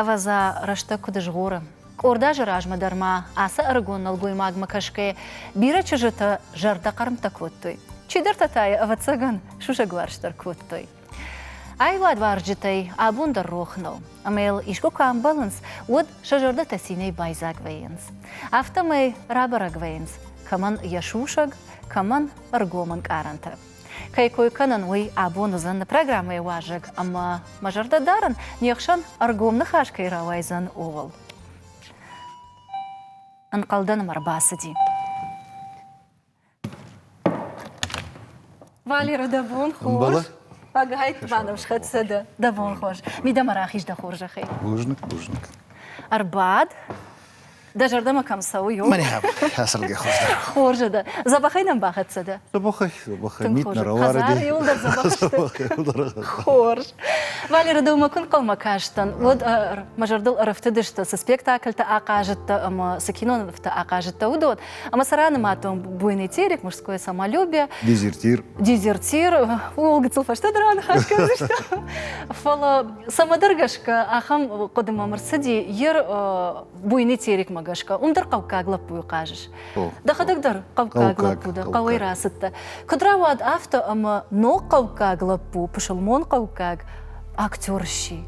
Ӕвӕдза, рӕстӕг куыд згъоры. Къорд азы размӕ дӕр ма ацы ӕрыгон нӕлгоймагмӕ кӕсгӕйӕ бирӕ чызджытӕ зӕрдӕхъӕрмттӕ кодтой. Чидӕртӕ та йӕ, ӕвӕццӕгӕн, сусӕгуарзт дӕр кодтой. Аивадуарзджытӕй абон дӕр рох нӕу, ӕмӕ йыл искуы куы амбӕлынц, уӕд сӕ зӕрдӕтӕ цинӕй байдзаг вӕййынц. Афтӕмӕй рабӕрӕг вӕййынц, кӕмӕн йӕ сусӕг, кӕмӕн ӕргом ӕнкъарӕнтӕ. Кӕй кой кӕнын, уый абон уыдзӕн программӕйы уазӕг ӕмӕ мӕ зӕрдӕ дарын, не хсӕн ӕргом ныхас кӕй рауайдзӕн, ууыл. Ӕнхъӕлдӕн ӕм ӕрбацыди. Валера, дӕ бон хорз. Ӕгайть ма нӕм схӕццӕ дӕ. Дӕ бон хорз. Мидӕмӕ рахиз дӕ хорзӕхӕй. Бузныг, бузныг. Ӕрбад. Дӕ зӕрдӕмӕ кӕм цӕуы, ё? Мӕнӕ хӕсӕргӕ хуыздӕр. Хорзӕ дӕ. Дзӕбӕхӕй нӕм бахӕццӕ дӕ? Дзӕбӕхӕй, дзӕбӕхӕй. Мит нӕ рауарыди. Хӕдзары иуыл дӕр дзӕбӕх сты. Хорз. Валеры дӕумӕ куы нхъӕлмӕ кастӕн, уӕд мӕ зӕрдыл ӕрӕфтыдысты, цы спектакльтӕ ахъазыдтӕ ӕмӕ цы кинонывтӕ ахъазыдтӕ, уыдон. Ӕма сӕ ранымадтон буйный терек, мужское самолюбие. Дезертир. Дезертир. О, гыццыл фӕстӕдӕр аныхас кӕндзыстӕм. Фӕлӕ цӕмӕдӕр гӕсгӕ ахӕм хъуыдымӕ ӕрцыди йер буйный терекмӕ гӕсгӕ. Уым дӕр хъӕуккаг лӕппуйы хъазыс. Дӕхӕдӕг дӕр хъӕуккаг лӕппу дӕ, хъӕуӕй рацыдтӕ. Куыд рауад афтӕ, ӕмӕ ног хъӕуккаг лӕппу, пысылмон хъӕуккаг актер сси.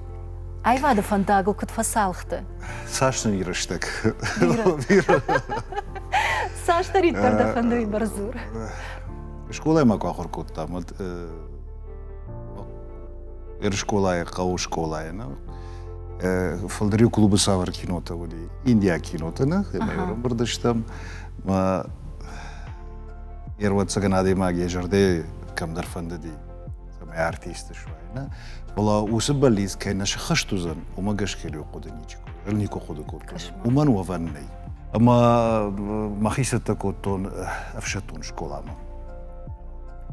Аивады фӕндагыл куыд фӕцалхты? цас нын рӕстӕг цасдӕриддӕр дӕ фӕндыйы бӕрц дзур скъолайы ма куы ахуыр кодтам уӕд ерыскъолайы хъӕуы скъолайы нӕ фӕлдӕр клубы цавӕр кинотӕ уыди индийаг кинотӕ нӕ ӕмӕ ӕрӕмбырд стӕм ӕрвӕццӕгӕн адӕймаг йӕ зӕрдӕ кӕмдӕр фӕндыди цӕмӕй артисты суайна, фӕлӕ уыцы бӕллиц кӕй нӕ сыххӕст уыдзӕн, уымӕ гӕсгӕ риу хъуыды ничи кодта, никуы хъуыды кодтон. Уымӕн уӕвӕн нӕй. Ӕмӕ мӕхи цӕттӕ кодтон ӕфсӕддон скъоламӕ.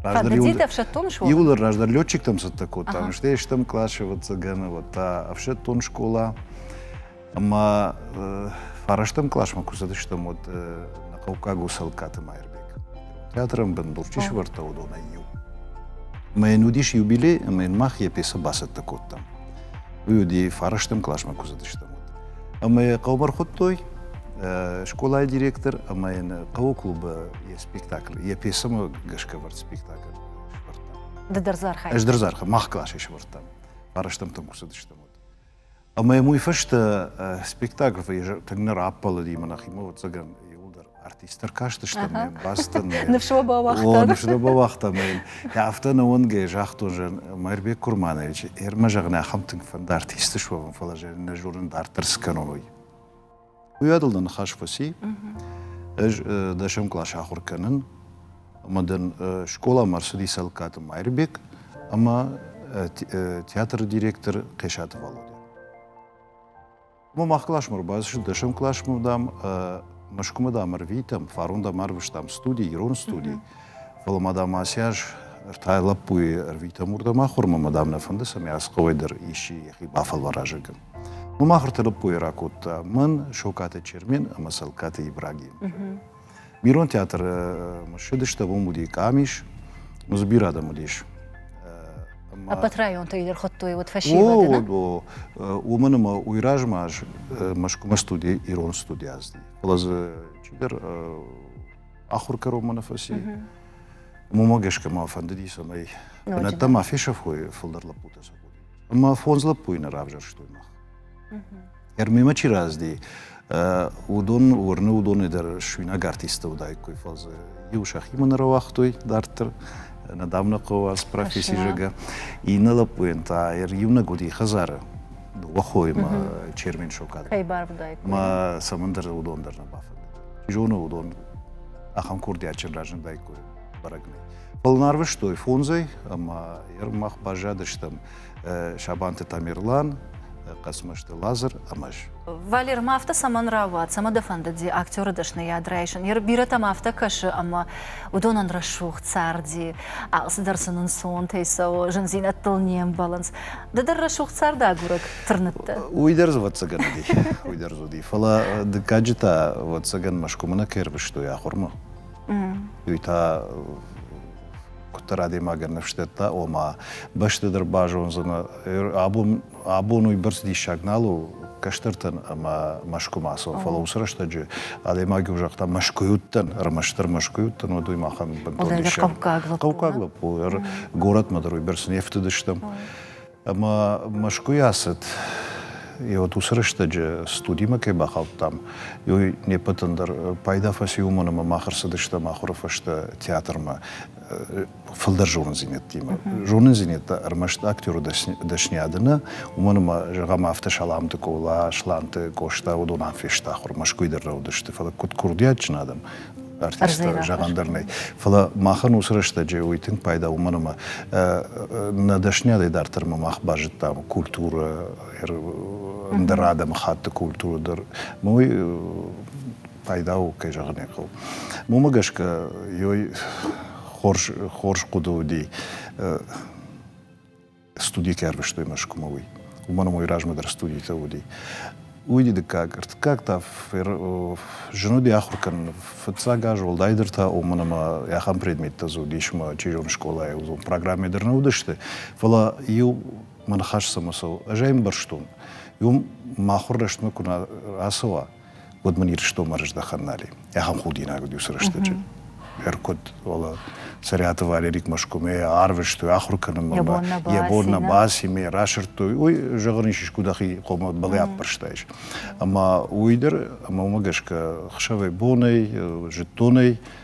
Кандидат ӕфсӕддон скъола? Иууыл раздӕр летчиктӕм цӕттӕ кодтам, стӕй стӕм классы ӕвӕццӕгӕн, вот та ӕфсӕддон скъола. Ӕмӕ фарӕстӕм классмӕ куы цыдыстӕм, уӕд нӕ хъӕуккаг у Цӕлыккаты Майырбег. Театрӕн бын Былчъи сывӕрдта уыдонӕй иу. Ӕмӕ йын уыдис юбилей, ӕмӕ йын мах йӕ пьесӕ бацӕттӕ кодтам. Уый уыди фарӕстӕм классмӕ куы цыдыстӕм, уӕд. Ӕмӕ йӕ хъӕубӕр хуыдтой скъолайы директор ӕмӕ йын хъӕуы клубы йӕ спектакль, йӕ пьесӕмӕ гӕсгӕ ӕвӕрд спектакль сывӕрдта. Ды дӕр дзы архайдтай? Ӕз дӕр дзы архайдтон. Мах классӕй сывӕрдтам. Фарӕстӕмтӕм куы цыдыстӕм, уӕд. Ӕмӕ йӕм уый фӕстӕ спектакль тынг нӕ раппӕлыди мӕ нӕхимӕ, ӕвӕццӕгӕн, иууылдӕр артист ӕркастысты мӕ бӕстын. Ныфс уӕ бауагътам. Ныфс уӕ бауагътам. Афтӕ нӕ уӕнгӕй загътон зӕн Мӕирбек Курманович, Ӕрмӕ зӕгъын, ахӕм тынг фӕнд артисты суӕвын, фӕлӕ зӕн нӕ зонын дарддӕр цы кӕнон, уый. Уый адыл дӕ ныхас фӕци. Ӕз дӕсӕм класс ахуыр кӕнын, ӕмӕ дын скъоламӕ ӕрцыди Цӕлыккаты Майырбек ӕмӕ театры директор Хъесаты Валодя. Мӕ мах классмӕ ӕрбацыд, дӕсӕм классмӕ дам, Мӕскуымӕ дам ӕрвитӕм, фарон дам ӕрвыстам студи, ирон студи, фӕлӕ ма дам ацы аз ӕртӕ лӕппуйы ӕрвитӕм уырдӕм ахуырмӕ, мӕ дам нӕ фӕнды, цӕмӕй Асхъауӕй дӕр исчи йӕхи бафӕлвара зӕггӕн. Уым ахуырты лӕппуйы ракодта мын Сокаты Чермен ӕмӕ Цӕлкаты Ибраги. Бирон театры ссыдыстӕм, уым уыди къамис, ну дзы бирӕ адӕм уыдис. Ӕппӕт районтӕй дӕр хуыдтой уыд фӕсивӕды, О, уымӕн ӕмӕ уый размӕ ӕз Мӕскуымӕ студи ирон студи ӕзти. Фӕлӕ дзы чидӕр ахуыр кӕрон мӕ фӕци. Уымӕ гӕсгӕ мӕ фӕндыди, цӕмӕй бынӕттӕ ма фесӕфой фылдӕр лӕппутӕ сӕ Ӕмӕ фондз лӕппуйы нӕ равзӕрстой мах. Эрмемӕ чи разди, уыдон уырны уыдонӕй дӕр суинаг артисттӕ уыдаиккой, фӕлӕ иу сӕхимӕ нӕ рауагътой дарддӕр недавно хъӕуӕз професси зӕгӕ. Иннӕ лӕппуйӕн та иунӕг уыди хӕдзары дыууӕ хоимӕ чермен сокад. Кӕй барвыдаиккой. Ӕмӕ цӕмӕндӕр уыдон дӕр нӕ бафӕндыд. Чи зоны уыдон ахӕм курдиатджын разындаиккой. бӕрӕгмӕ. Былнарвыстой фондзӕй ӕмӕ мах баззадыстӕм Сабанты Тамерлан, Хъӕцмӕзты Лазыр ӕмӕ ӕз. Валер, ма афтӕ цӕмӕн рауад, цӕмӕ дӕ фӕндыди актеры дӕсныйад райсын? Йӕ бирӕтӕм афтӕ кӕсы, ӕмӕ уыдонӕн рӕсугъд царди алцыдӕр сын ӕнцонтӕй цӕуы, зындзинӕдтыл не мбӕлынц. Ды дӕр рӕсугъд царды агурӕг тырныдтӕ? Уый дӕр дзы ӕвӕццӕгӕн уыди, уый дӕр дзы уыди. Фӕлӕ дыккаджы та, ӕвӕццӕгӕн, Мӕскуымӕ нӕ кӕй ӕрвыстой ахуырмӕ. Уый та куыддӕр адӕймагӕн ныфсдӕтта, ома бӕсты дӕр базондзынӕ. Абон абон уый бӕрц диссаг нал у кӕстӕртӕн ӕмӕ мӕскуымӕцон, фӕлӕ уыцы рӕстӕджы адӕймаг иу загъта Мӕскуй уыдтӕн, ӕрмӕстдӕр Мӕскуй уыдтӕн, уӕд уый махӕн бынтон диссаг. Хъӕуккаг лӕппу. Хъӕуккаг лӕппу, горӕтмӕ дӕр уый бӕрц не фтыдыстӕм. Ӕмӕ Мӕскуыйы ацыд, и вот уыцы рӕстӕджы студимӕ кӕй бахаудтам, уый не ппӕтӕн дӕр пайда фӕци, уымӕн ӕмӕ мах ӕрцыдыстӕм ахуыры фӕстӕ театрмӕ фылдӕр зонындзинӕдтимӕ. Зонындзинӕдтӕ ӕрмӕст актеры дӕсниады нӕ, уымӕн ӕмӕ, зӕгъӕм, афтӕ Саламты Къола, Сланты Къоста уыдон ам фесты ахуыр, Мӕскуыйы дӕр нӕ уыдысты, фӕлӕ куыд курдиатджын адӕм, артисттӕ зӕгъӕн дӕр нӕй. Фӕлӕ махӕн уыцы рӕстӕджы уый тынг пайда уымӕн ӕмӕ нӕ дӕсныйадӕй дарддӕр ма мах базыдтам культурӕ, ӕндӕр адӕмыхатты культурӕ дӕр. Уый пайда у, кӕй зӕгъын ӕй хъӕуы. Уымӕ гӕсгӕ ёй хорз хорз хъуыды уыди студийы кӕй арвыстой Мӕскуымӕ, уый. Уымӕн ӕмӕ уый размӕ дӕр студитӕ уыди. Уый ди дыккаг, ӕртыккаг та зын уыди ахуыр кӕнын. Фыццаг аз уӕлдайдӕр та уымӕн ӕмӕ ахӕм предметтӕ дзы уыдис мӕ чизоны скъолайы, уыдон программӕ дӕр нӕ уыдысты. Фӕлӕ иу мӕ ныхас цӕмӕ цӕуы, ӕз ӕй ӕмбӕрстон, иу махуыр рӕстмӕ куы нӕ рацӕуа, уӕд мын Ирыстонмӕ рыздӕхӕн нали. Ахӕм худинаг уыд уыцы рӕстӕджы. Ӕркуыд, ола Цӕриаты Валерик Мӕскуымӕ арвыстой ахуыр кӕнынмӕ. Йӕ бон нӕ Йӕ бон нӕ бацимӕ расырдтой. Уый зӕгъын ис искуы дӕхи хъомӕ балӕппӕрстаис. Ӕмӕ уый дӕр ӕмӕ уымӕ гӕсгӕ хсӕвӕй-бонӕй, зыдтонӕй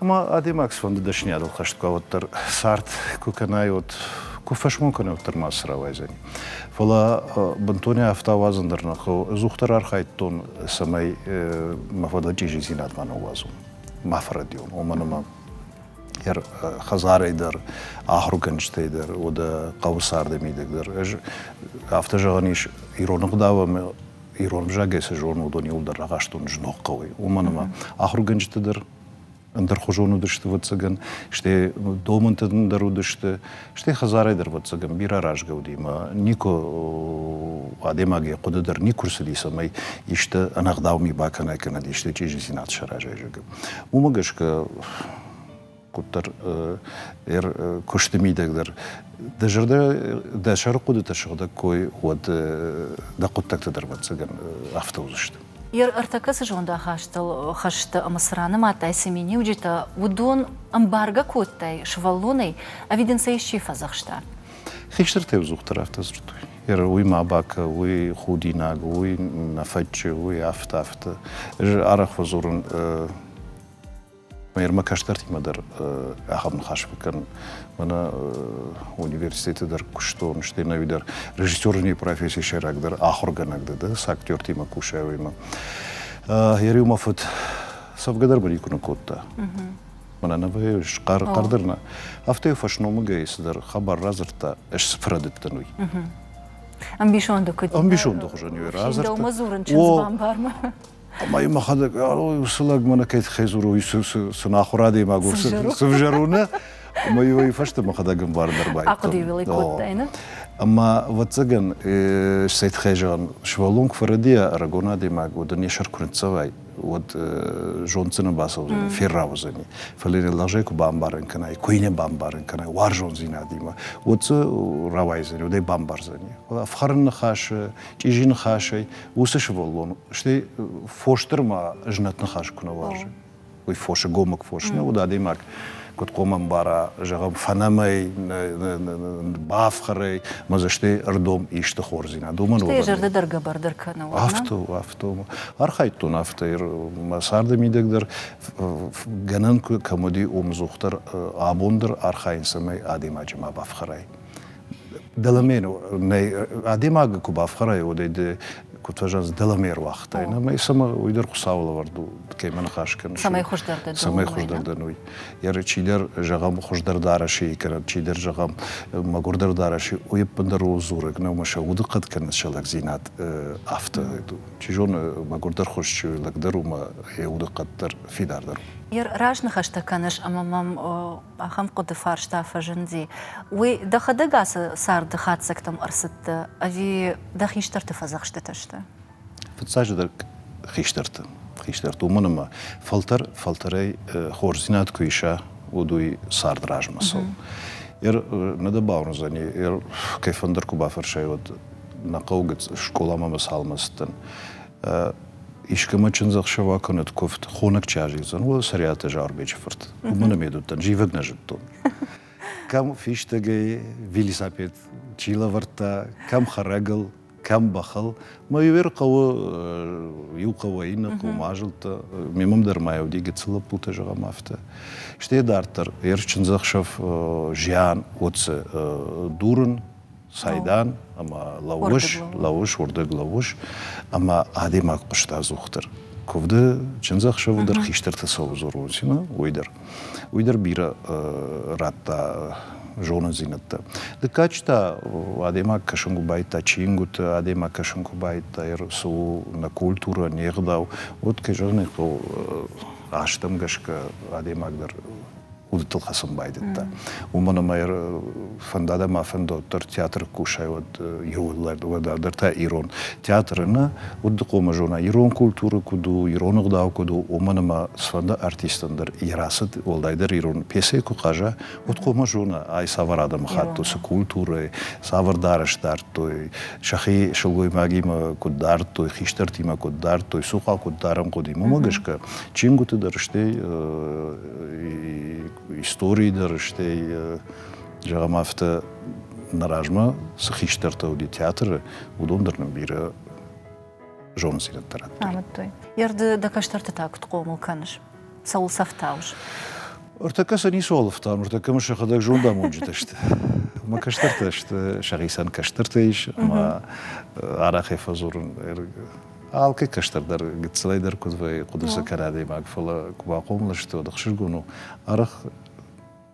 Ӕмӕ адӕймаг цыфӕнды дӕсныйадыл хӕст куы уӕддӕр цард куы кӕнай, уӕд куы фӕсмон кӕнай, уӕддӕр ма цы рауайдзӕни. Фӕлӕ бынтонӕй афтӕ ауадзын дӕр нӕ хъӕуы. Ӕдзухдӕр архайдтон, цӕмӕй мӕ фӕдыл чъизидзинад ма ныууадзон, ма фӕрӕдийон, уымӕн ӕмӕ йӕ хӕдзарӕй дӕр, ахуыргӕнджытӕй дӕр, уӕдӕ хъӕуы царды мидӕг дӕр. Ӕз афтӕ зӕгъӕн ис, ирон ӕгъдау ӕмӕ ирон ӕвзагӕй цы зонын, уыдон иууылдӕр рахастон зног хъӕуӕй. Уымӕн ӕмӕ ахуыргӕнджыты дӕр ӕндӕрхуызон уыдысты вӕццӕгӕн, стӕй домынты дӕр уыдысты, стӕй хӕдзарӕй дӕр вӕццӕгӕн бирӕ рӕзгӕ уыди, ӕмӕ никуы адӕймаг йӕ хъуыды дӕр никуы рцыди, цӕмӕй исты ӕнӕгъдау ми бакӕнай кӕнӕд исты чъизидзинад саразай, зӕгъгӕ. Уымӕ гӕсгӕ куыддӕр ӕр куысты мидӕг дӕр дӕ зӕрдӕ, дӕ сӕрыхъуыдытӕ сыгъдӕг кой, уӕд дӕ хъуыддӕгтӕ дӕр вӕццӕгӕн афтӕ уыдзысты. ӕртӕкӕ цы зондахастыл хӕсты ӕмӕ цы ранымадтай цы миниуджытӕ, уыдон ӕмбаргӕ кодтай сывӕллонӕй, ӕви дын сӕ исчи фӕдзӕхста? Хистӕр теудзухдӕр афтӕ дзырдтой, уый ма бакӕ, уый худинаг, уый нӕ фӕччы, уый афтӕ-афтӕ. Ӕз арӕх фӕдзурын Мӕ ермӕ кӕстӕртимӕ дӕр ахӕм ныхас куы кӕн. Мӕнӕ университеты дӕр куыстон, стӕй ӕви дӕр режиссерней профессийы сӕйраг дӕр ахуыргӕнӕг дӕ, да, цы актертимӕ кусай, уыимӕ. Йӕ риу мӕ фыд цӕвгӕ дӕр мын никуы ныкодта. Мӕнӕ нывы схъӕр хъӕр дӕр нӕ. Афтӕ йӕ фӕсномыгӕй цыдӕр хабар радзырдта, ӕз цы фӕрӕдыдтӕн, уый. Ӕмбисонды куыд? Ӕмбисонды хуызӕн йӕ радзырдта. Дӕумӕ дзурын чындз бамбармӕ. Ӕма и мӕхӕдӕг, уыцы лӕг мӕнӕ кӕй тыххӕй дзурой, сын ахуыр адӕймаг у, сывзӕрон, ӕмӕ йой фӕстӕ мӕхӕдӕг ӕмбар дӕр байдтон. Ахъуыды-иу ӕй кодтаинӕ? Ӕмӕ, ӕвӕццӕгӕн, цӕй тыххӕй зӕгъын, сывӕллон куы фӕрӕдийа, ӕрыгон адӕймаг уӕд ын йӕ сӕр куы ныццӕвай, уӕд зонддзӕн бацӕудзӕни, феррӕудзӕни. Фӕлӕ йын лӕгъзӕй куы бамбарын кӕнай, куы йын бамбарын кӕнай уарзондзинадимӕ, уӕд дзы рауайдзӕни, уӕд ӕй бамбардзӕни. Ӕфхӕрын ныхасы, чъизи ныхасӕй уыцы сывӕллон, стӕй фосдӕрма знӕт ныхас куы нӕ уарзы, уый фосы гомыг фос нӕ уыд адӕймаг, куыд хъомӕ мбара, зӕгъӕм, фӕнӕмӕй, бафхӕрӕй, мӕ дзы стӕй ӕрдом исты хорздзинад. Уымӕн уыдон. зӕрдӕ дӕр гӕбӕрдӕр кӕны. Афтӕ, афтӕ. Архайдтон афтӕ, мӕ царды мидӕг дӕр гӕнӕн кӕм уыди, омдзух дӕр, абон дӕр архайын, цӕмӕй адӕймаджы ма бафхӕрай. Дӕлӕмер нӕй адӕймаг куы бафхӕрай, уӕдӕй ды куыд фӕзӕнц дӕлӕмер уагътай, ӕмӕ цӕмӕ уый дӕр Хуыцауы лӕвӕрд у, кӕмӕ ныхас кӕныс. Цӕмӕй хуыздӕр дӕ Цӕмӕй хуыздӕр дӕн, уый. Йӕ чидӕр зӕгъӕм хуыздӕр дарӕсийы кӕнӕ чидӕр зӕгъӕм мӕгуырдӕр дарӕси, уый ӕппындӕр у дзурӕг нӕу, ӕмӕ сӕ удыхъӕд кӕнынц сӕ лӕгдзинад афтӕ. Чи зоны, мӕгуырдӕр хуыз чи у, лӕг дӕр у, ӕмӕ йӕ удыхъӕд дӕр фидардӕр у. Йӕ разныхӕстӕ кӕныс ӕмӕ мӕм Ахӕм хъуыды фарста фӕзынди, уый дӕхӕдӕг ацы царды хатдзӕгтӕм ӕрцыдтӕ ӕви дӕ хистӕрты фӕдзӕхстытӕ сты? Фыццаджыдӕр хистӕрты. Хистӕрты уымӕн ӕмӕ фӕлтӕр фӕлтӕрӕй хорздзинад куы иса, уӕд уый цард размысыл. Нӕ дӕ бауырндзӕни, кӕй фӕндыр куы бафӕрсай, уӕд нӕ хъӕуы гыц скъоламӕ мӕ цалмӕцыдтӕн. искӕмӕ чындзӕхсӕвӕ кӕнӕд куывд, хонӕг чи азидзӕн, уӕд Сӕриаты Зарбечы фырт. Уымӕн ӕм уыдтӕн, зивӕг нӕ зыдтон. Кӕм фистӕгӕй велосипед чи лӕвӕрдта, кӕм хӕрӕгыл, кӕм бӕхыл. Мӕ иуӕр хъӕуы, иу хъӕуӕй иннӕ хъӕумӕ азылдта. Мемам дӕр ма йӕ уыди гыццыл лӕппутӕ, зӕгъӕм, афтӕ. Стӕй дарддӕр, ерыс чындзӕхсӕв зиан, отцы дурын, Сайдан ӕмӕ лӕууыс, лӕууыс, уырдыг лӕууыс, ӕмӕ адӕймаг хъуыста ӕдзухдӕр. Куывды чындзӕхсӕвы дӕр хистӕрты цӕуы Зурулсина, уый дӕр. Уый дӕр бирӕ радта зонындзинӕдтӕ. Дыккаджы та адӕймаг кӕсын куы байдта чингуыты, адӕймаг кӕсын куы байдта, цы у нӕ культурӕ, не гъдау, уӕд, кӕй зӕгъын ӕй хъӕуы, азтӕм гӕсгӕ адӕймаг дӕр удытыл хӕцын байдыдта. Уымӕн ӕмӕ фӕнда мӕ фӕндон дӕр театры кусай уӕд иуыллӕр, уӕддӕр та ирон театры нӕ удыхъомы зона ирон культуры куыд у, ирон ӕгъдау куыд у, уымӕн ӕмӕ цыфӕнды артистӕн дӕр йӕ рацыд уӕлдайдӕр ирон пьесӕйы куы хъаза, уӕд хъомӕ зона ай цавӕр адӕмыхатт у, цы культурӕйы, цавӕр дарӕс дардтой, сӕхи сылгоймагимӕ куыд дардтой, хистӕртимӕ куыд дардтой, цухъа куыд дарын хъуыди. Уымӕ гӕсгӕ чингуыты дӕр, стӕй истории дӕр, стӕй, зӕгъӕм, афтӕ нӕ размӕ цы хистӕртӕ уыди театры, уыдон дӕр нын бирӕ зонындзинӕдтӕ радтой. Амыдтой. Ерды дӕ кӕстӕрты та куыд хъомыл кӕныс? Цӕуыл сӕфтауыс? Ӕртӕккӕ сӕ ницы олыфтам, ӕртӕккӕ мын сӕхӕдӕг зондамонджытӕ сты. Мӕ кӕстӕртӕ сты, сӕхицӕн кӕстӕртӕ ис, ӕмӕ арӕхӕй фӕдзурын Алкӕй кӕстӕрдӕр гыццылӕй дӕр куыд вӕййы хъуыдырсӕкӕр адӕймаг, фӕлӕ куы бахъомыл сты, уӕд ӕхсызгон у, арӕх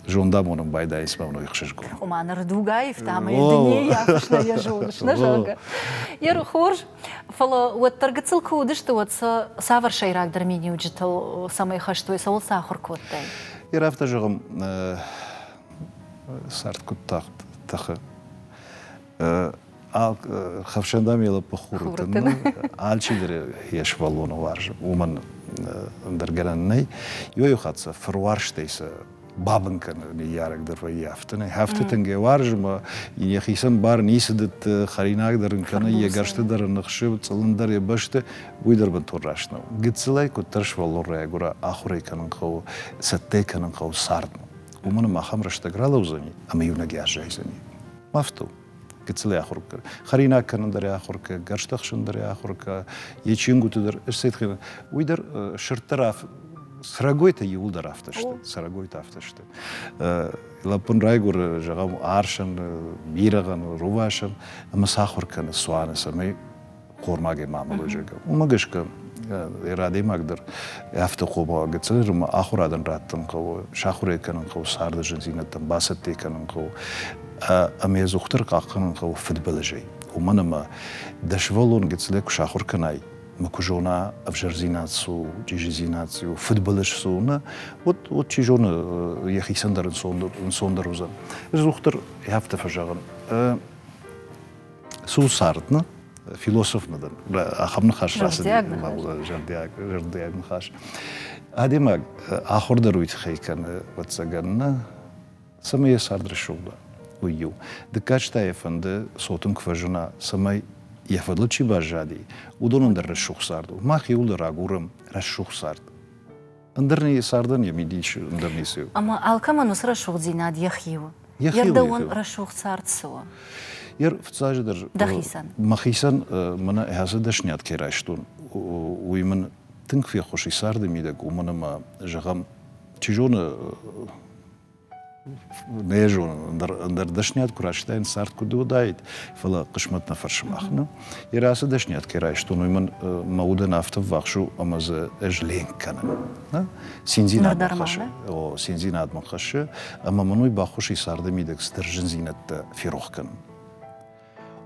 зондамонын байдайынц мӕ уыной хсызгон. Ома ныр дуг аивта мӕ дунейы ахуырсна йӕ зондысна, зӕгъгӕ. Йе хорз, фӕлӕ уӕддӕр гыццыл куы уыдысты, уӕд сӕ цавӕр сӕйрагдӕр миниуджытыл цӕмӕй хӕстой, цӕуыл сӕ ахуыр кодтай? Йе афтӕ зӕгъӕм, цард куыд тагъд тӕхы, хӕфсӕндӕм елаппа хуртын алчидӕр ес бӕллоны уарз уымӕн ӕндӕр гӕнӕн нӕй ёйо хатса фыруарзтӕй сӕ бабын кӕны ныййарӕг дӕр вӕййы афтӕ афтӕ тынгӕ уарзмӕ ин йӕхицӕн бар ницы дӕтты хӕринаг дӕр ын кӕны йӕ гӕрзты дӕр ын ныхсы цъылын дӕр йӕ бӕсты уый дӕр бынтон раст нӕу гыццылӕй куыддӕр свӕллон райгуыра ахуырӕй кӕнын хъӕуы цӕттӕ кӕнын хъӕуы цардмӕ уымӕн ӕмӕ ахӕм рӕстӕг ралӕудзӕни ӕмӕ иунӕг аззайдзӕни Мафтыл. Гыццылӕй ахуыр кӕ. Хӕринаг кӕнын дӕр ахуыр кӕ, гӕрстӕхсын дӕр ахуыр кӕ, йе чингуыты дӕр, ӕсетхина. Уый дӕр сырддӕр срӕгойтӕ иуылдӕр афтӕ сты, срӕгойтӕ афтӕ сты. Лӕппын райгуыры, зӕгъӕм, арсӕн, бирӕгъӕн, рувасӕн, ӕмӕ сӕ ахуыр кӕны цуаны, цӕмӕй хормагӕй ма мӕлойзагӕ. Уымӕ гӕсгӕ ер адӕймагдӕр афтӕ хъомыла гыццыл ӕмӕ ахуырадӕн раттын хъӕуы, сахуырӕй кӕнын хъӕуы царды зындзинӕдтӕм, бацӕттӕ кӕнын хъӕуы ӕмӕ йӕ дохтыр хъахъхъӕнын хъӕуы фыдбылызӕй. Уымӕн ӕмӕ дӕ сывӕллон гыццылӕй куы сахуыр кӕнай, ӕмӕ куы зона, ӕвзӕрдзинад цы у, чъизидзинад цы у, фыдбылыз цы у, нӕ, уӕд, уӕд чи зоны, йӕхицӕн дӕр ӕнцондӕр уыдзӕн. Ӕз дохтыр афтӕ фӕзӕгъын, цы у цард нӕ философмӕ дӕр ахӕм ныхас рацыд зӕрдиаг ныхас адӕймаг ахуыр дӕр уый тыххӕй кӕны ӕвӕццӕгӕн нӕ цӕмӕй йӕ цард рӕсугъд уа уый иу дыккаг та йӕ фӕнды цотын куы фӕзына цӕмӕй йӕ фӕдыл чи баззади уыдонӕн дӕр рӕсугъд цард у мах иууыл рагурӕм рӕсугъд цард Ӕндӕр не цардӕн йӕ мидис ӕндӕр ницы у. Ӕмӕ алкӕмӕн уыцы рӕсугъддзинад йӕхи у. Йӕхи рдӕуӕн рӕсугъд цард цы у? Йе рфыццаджы дӕр дӕхицӕн. Мӕхицӕн мӕнӕ ӕз дӕсниад кӕй райстон, уый мын тынг феххуысы царды мидӕг, уымӕн ӕмӕ, зӕгъӕм, чи зоны, Нӕ зонын, ӕндӕр, ӕндӕр дӕсниад куы райстаин, цард куыд уыдаид, фӕлӕ хъысмӕт нӕ фӕрсы мах. Ну? Йӕ рацы дӕсниад кӕй райстон, уый мын мӕ удӕн афтӕ ввахс у, ӕмӕ дзы ӕз ленк кӕнын. Нӕ? Циндзинадмӕ хӕссы. О, циндзинадмӕ хӕссы, ӕмӕ мын уый баххуыс и царды мидӕг цыдӕр зындзинӕдтӕ ферох кӕнын.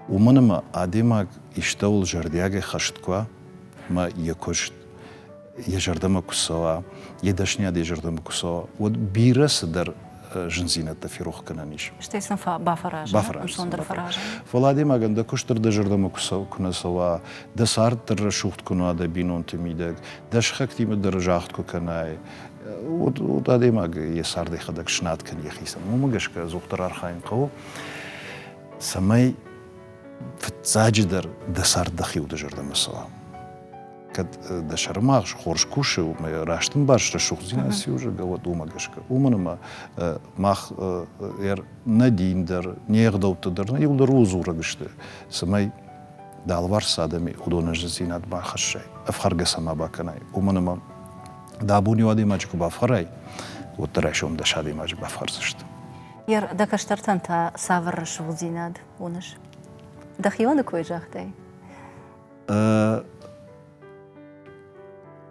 уымӕн ӕмӕ адӕймаг истӕуыл зӕрдиагӕй хӕст куы уа ӕмӕ йӕ куыст йӕ зӕрдӕмӕ куы цӕуа, йӕ дӕсниад йӕ зӕрдӕмӕ куы цӕуа, уӕд бирӕ цыдӕр зындзинӕдтӕ ферохгӕнӕн ис. Стӕй сын бафӕраза, ӕнцондӕр фӕраза. Фӕлӕ адӕймагӕн дӕ куыст дӕр дӕ зӕрдӕмӕ куы нӕ цӕуа, дӕ цард дӕр рӕсугъд куы нуа дӕ бинонты мидӕг, дӕ сыхӕгтимӕ дӕр загъд куы кӕнай, уӕд, уӕд адӕймаг йӕ цард йӕхӕдӕг снад кӕн йӕхицӕн. Уымӕ гӕсгӕ ӕдзухдӕр архайын хъӕуы. цӕмӕй фыццаджыдӕр дӕ цард дӕхи уды зӕрдӕмӕ цӕуа. Кӕд дӕ сӕрымагъз хорз кусы, ӕмӕ раст ӕмбарыс рӕсугъддзинад цы уызӕгӕ, уӕд уымӕ гӕсгӕ. Уымӕн ӕмӕ мах нӕ дин дӕр, не ӕгъдӕуттӕ дӕр нӕ иу дӕр у дзурӕг сты, цӕмӕй дӕ алыварс адӕми уыдон ӕздзинадмӕ хӕссай, ӕфхӕргӕ сӕ ма бакӕнай. Уымӕн ӕмӕ дӕ абон иу адӕймаджы куы бафхӕрай, уӕд дӕ райсом дӕс адӕймаджы бафхӕрдзысты. дӕ кӕстӕртӕн та цавӕр рӕсугъддзинад уыныс? Дӕхионы кой загътай?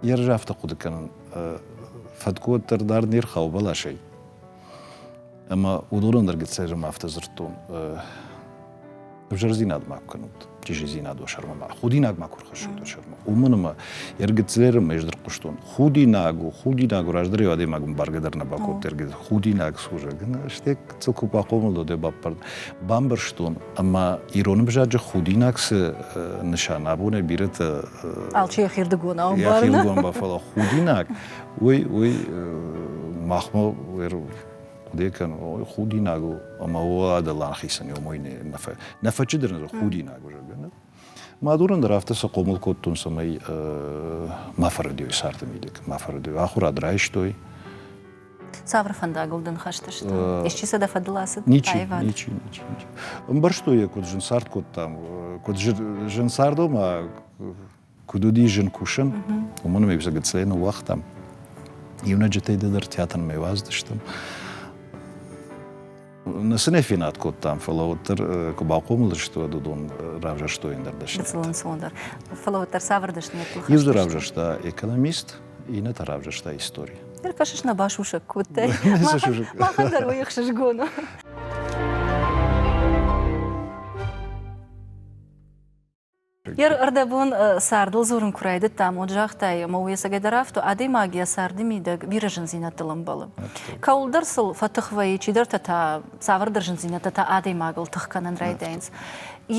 Йе рзы афтӕ хъуыды кӕнын, фӕткъуыт дӕр дард не рхауы бӕласӕй. Ӕмӕ уыдоны ӕндӕр гыццайы зӕм афтӕ дзырдтон. ӕвзӕрдзинад ма куы кӕнут, чизидзинад уӕ сӕрмӕ ма худинаг ма куы рхӕссут уӕ сӕрмӕ. Уымӕн ӕмӕ ергицлеры ма ӕз дӕр хъуыстон. Худинаг у, худинаг у, раздӕр eo адӕймагом бӕргӕ дӕр нӕ бакодта ергицл. Худинаг служа. Стӕй цылку бахъомыл уӕд баппар. Бамбӕрстон ӕмӕ ирон ӕвзаджы худинаг цы нысан абонӕй бирӕтӕ алчи йӕхирдыгон ӕмбарын. Йӕхирдыгон бафӕла худинаг, уый уый махмӕ Декан, худинаг у, ӕмӕ о адал ахицӕн уымӕй нӕ фӕчыдӕр ныр худинаг у, зӕгъгӕ. Нӕ? Мӕ дурын дӕр афтӕ сӕ хъомыл кодтон, цӕмӕй ма фӕрӕдой сӕрты мидӕг, ма фӕрӕдой. Ахуырад райстой. Цавӕр фӕндагыл дын хӕсты сты? Исчи сӕ дӕ фӕдыл ацыд? Ничи, ничи, ничи, ничи. Ӕмбӕрстой йӕ, куыд зын цард кодтам, куыд зын цардыл ма Куыд уыди зын кусын, уымӕн ӕмӕ ӕвзаг цӕй ныууагътам. Иунӕджытӕй дӕр театрмӕ уадзтыстӕм. Нӕ сын не фенад кодтам, фӕлӕ уӕддӕр куы бахъомыл сты, уӕд уыдон равзӕрстой ӕндӕр дӕсныдтӕ. дӕр. Фӕлӕ уӕддӕр цавӕр дӕсныдӕттыл хӕст Иу дзы равзӕрста экономист, иннӕтӕ равзӕрста истори. Ныр кӕсыс, нӕ басусӕг кодтай. Махӕн дӕр уый ӕхсызгон у. Йе рдӕбон цардыл дзурын куы райдыдтам, уӕд загътай, ӕмӕ уыйӕцӕгӕй дӕр афтӕ, адӕймаг йӕ царды мидӕг бирӕ зындзинӕдтыл ӕмбӕлы. Кӕуылдӕр сыл фӕтых вӕййы, чидӕртӕ та цавӕрдӕр зындзинӕдтӕ та адӕймагыл тых кӕнын райдайынц.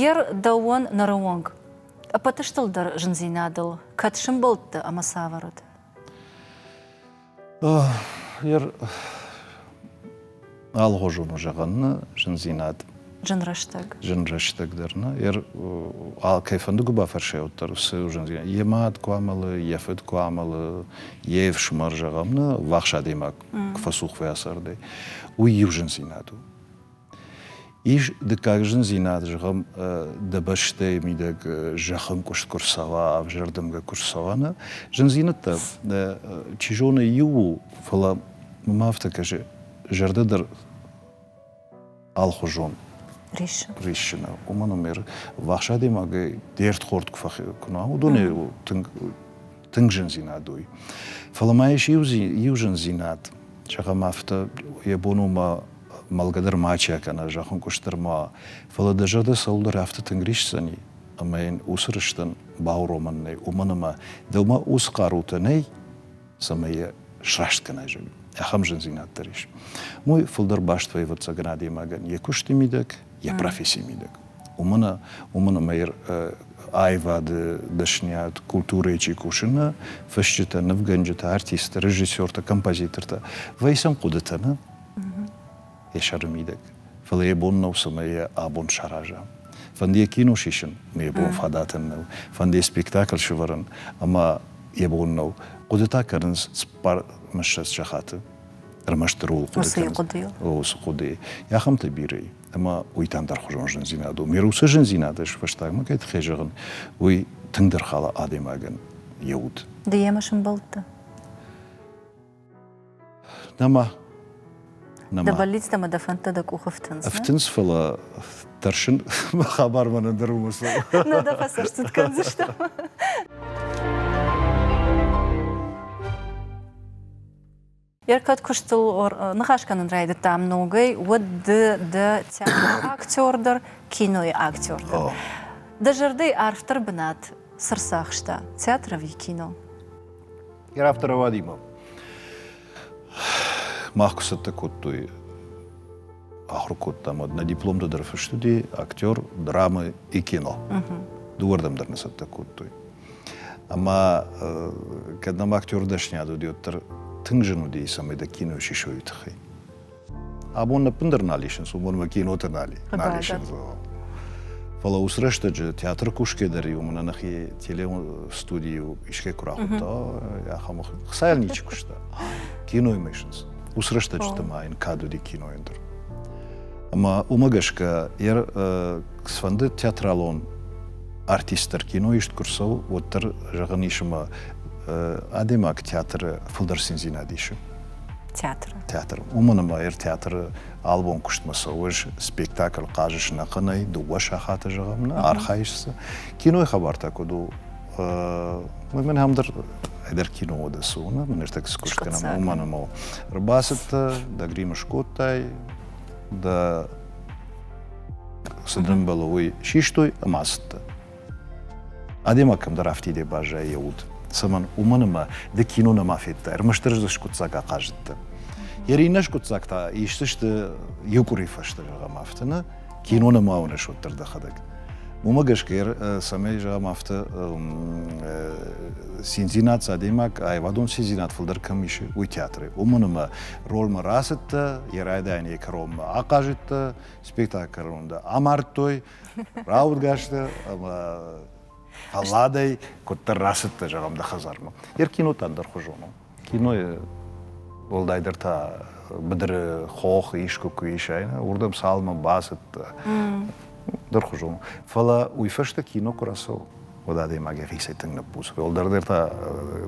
Йе рдӕуон ныры онг ӕппӕт стыл дӕр зындзинадыл кӕд сӕмбӕлдтӕ ӕмӕ цавӕр уыд? Ер алгъуызон у зӕгъӕн нӕ зындзинад. Зын рӕстӕг. Зын рӕстӕг дӕр нӕ. Ер кӕй фӕнды куы бафӕрсай уӕддӕр уыцы зындзинад. Йӕ мад куы амӕлы, йӕ фыд куы амӕлы, йе фсымӕр зӕгъӕм нӕ, ввахс адӕймаг куы фӕцух уа цардӕй, уый иу зындзинад у. Ис дыккаг зындзинад, зӕгъӕм, дӕ бӕстӕйы мидӕг зӕххы ӕмкъуыст куы рцӕуа, ӕвзӕрдымгӕ куы рцӕуа, нӕ зындзинӕдтӕ, чи зоны, иу у, фӕлӕ мӕм афтӕ кӕсы, зӕрдӕ дӕр алхуызон риссы. Риссы нӕ. Уымӕн ӕмӕ вӕхс адӕймагӕй де рдхорд куы фӕхи, куы нӕ уыдонӕй тынг тынг зындзинад уый. Фӕлӕ ма ис иу, иу зындзинад, зӕгъӕм афтӕ, йӕ бон у ма мӕлгӕ дӕр мачи кӕна, зӕххынкъуыст дӕр ма. Фӕлӕ дӕ зӕрдӕ цӕуылдӕр афтӕ тынг рисдзӕни, ӕмӕ йын уыцы рыстӕн бауромӕн нӕй, уымӕн ӕмӕ дӕумӕ уыцы хъарутӕ нӕй, цӕмӕй йӕ сраст кӕнай, зӕгъгӕ. Ахӕм зындзинад дӕр ис. Мой фылдӕр баст вӕйы ӕвӕццӕгӕн адӕймагӕн йӕ куысты мидӕг, йӕ профессийы мидӕг. Уымӕн уымӕн ӕмӕ аивады дӕсниад, культурӕйы чи кусыны, фысджытӕ, нывгӕнджытӕ, артисттӕ, режиссертӕ, композитортӕ вӕййынц хъуыдыты нӕ йӕ сӕры мидӕг. Фӕлӕ йӕ бон нӕу, цӕмӕй йӕ абон сараза. Фӕнды йӕ кино сисын, но йӕ бон фадатӕн нӕу. Фӕнды йӕ спектакль сӕвӕрын, ӕмӕ йӕ бон нӕу. Хъуыдытӕ кӕнынц цыппар мӕссӕдз сахаты. ӕрмӕстдӕр уыцы хъуыдыйыл уыцы хъуыдыйы ахӕмтӕ бирӕ ӕмӕ уый та ӕндӕрхуызон зындзинад у ме уыцы зындзинад ӕз фӕстагмӕ кӕй тыххӕй зӕгъын уый тынгдӕр хала адӕймагӕн йӕ уд ды йемӕ сымбӕлдтӕ нӕма нӕма дӕ бӕллицтӕ ӕмӕ дӕ фӕндтӕ дӕ къухы фтынц фтынц фӕлӕ тӕрсын мӕ хабар мӕнӕ дӕр у мысыл нӕ дӕ фӕсӕрцыд кӕндзыстӕм Йӕ кӕд куыстыл ныхас кӕнын райдыдтам ногӕй, уӕд ды дӕ театры актер дӕр, кинойы актер дӕр. Дӕ зӕрдӕйы арфдӕр бынат цы рцахста? Театр ӕви кино? Йӕ рафтӕр ауадимӕ. Мах куы цӕттӕ кодтой ахуыр кодтам. Нӕ дипломты дӕр фыст уыди актер, драмы и кино. Дыууӕрдӕм дӕр нӕ цӕттӕ кодтой. Ӕмӕ кӕд нӕм актёры дӕсниад уыд, уӕддӕр тынг зын уыди, цӕмӕй дӕ кино сисой, уый тыххӕй. Абон ӕппындӕр нал исынц, уымӕн мӕ кинотӕ нал, нал исынц. Фӕлӕ ус рӕстӕджы театры кусгӕ дӕр иу мӕнӕ нӕхи телестудийыл искӕй куы рахуыдта, ахӕм хцайыл ничи куыста. Киноимӕ исынц. Ус рӕстӕджыты ма йын кад уыди кинойӕн дӕр. Ӕмӕ уымӕ гӕсгӕ йӕ сфӕнды театралон артисттӕр кино ист куы рцӕуы, уӕддӕр, зӕгъын ис ӕмӕ адӕймаг театры фылдӕр циндзинад исы. Театры. Театры. Уымӕн ӕмӕ ӕртеатры албон куыстмӕ цӕуыс, спектакль хъазыс ӕнӕхъӕнӕй, дыууӕ сахаты, зӕгъӕм, нӕ архайыс цы. Кинойы хабар та куыд у? Мӕн ам дӕр ӕдӕр киноуӕды цы уыны, ныртӕккӕ скуыст кӕнӕм, уымӕн ӕмӕ ӕрбацыдтӕ, дӕ грим скодтай, дӕ Цы дын бӕлы, уый систой ӕмӕ ацыдтӕ. Адӕймаг кӕмдӕр афтиде баззайы йӕ уд. Цӕмӕн? Уымӕн ӕмӕ ды кино нӕма федтай, ӕрмӕстдӕр дзы скъуыддзаг ахъазыдтӕ. Йӕ иннӕ скъуыддзаг та исдзысты иу къуыри фӕстӕ, зӕгъӕм, афтӕ нӕ кино нӕма уыныс, уӕддӕр дӕхӕдӕг. Уымӕ гӕсгӕ, цӕмӕй, зӕгъӕм, афтӕ циндзинад адӕймаг, аивадон циндзинад фылдӕр кӕм ис, уый театры. Уымӕн ӕмӕ ролмӕ рацыдтӕ, йӕ райдайӕн йӕ кӕронмӕ ахъазыдтӕ, спектакль рунды амардтой рауадгӕсты ӕмӕ фӕлладӕй куыддӕр рацыдтӕ зӕгъӕм дӕ хӕдзармӕ йе кинотӕ ӕндӕрхуызон у кинойы уӕлдайдӕр та быдыры хох искуы куы иса уырдӕм цалынмӕ бацыдтӕ дӕрхуызон у фӕлӕ уый фӕстӕ кино куы рацӕуы уӕд адӕймаг йӕхицӕй тынг ныппусы уӕлдӕрдӕр та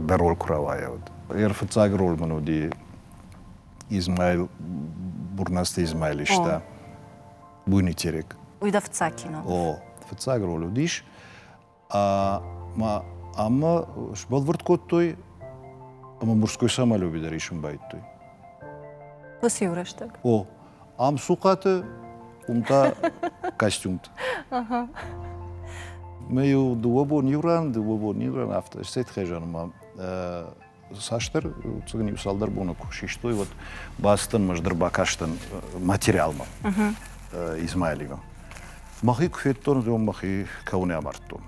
дӕ роль куы рауайа уӕд йе рфыццаг роль мын уыди Измаил, Бурнасты Измаил иста Буйнытерек. Уый дӕ фыццаг кино. О, фыццаг роль уыдис. Ӕмӕ сбӕлвырд кодтой ӕмӕ мужской самолеты дӕр исын байдтой. Уыцы иу рӕстӕг. О, ам цухъаты уым та костюмт. Мы иу дыууӕ бон иу ран, дыууӕ бон иу ран афтӕ. Стӕй тхӕзӕн ма цасдӕр цыгын иу-цалдӕр боны куы систой, уӕд бацыдтӕн ӕмӕ ӕз дӕр бакастӕн материалмӕ Измайлевы. Мӕхи куы федтон, уӕд мӕхи кӕуын амардтон.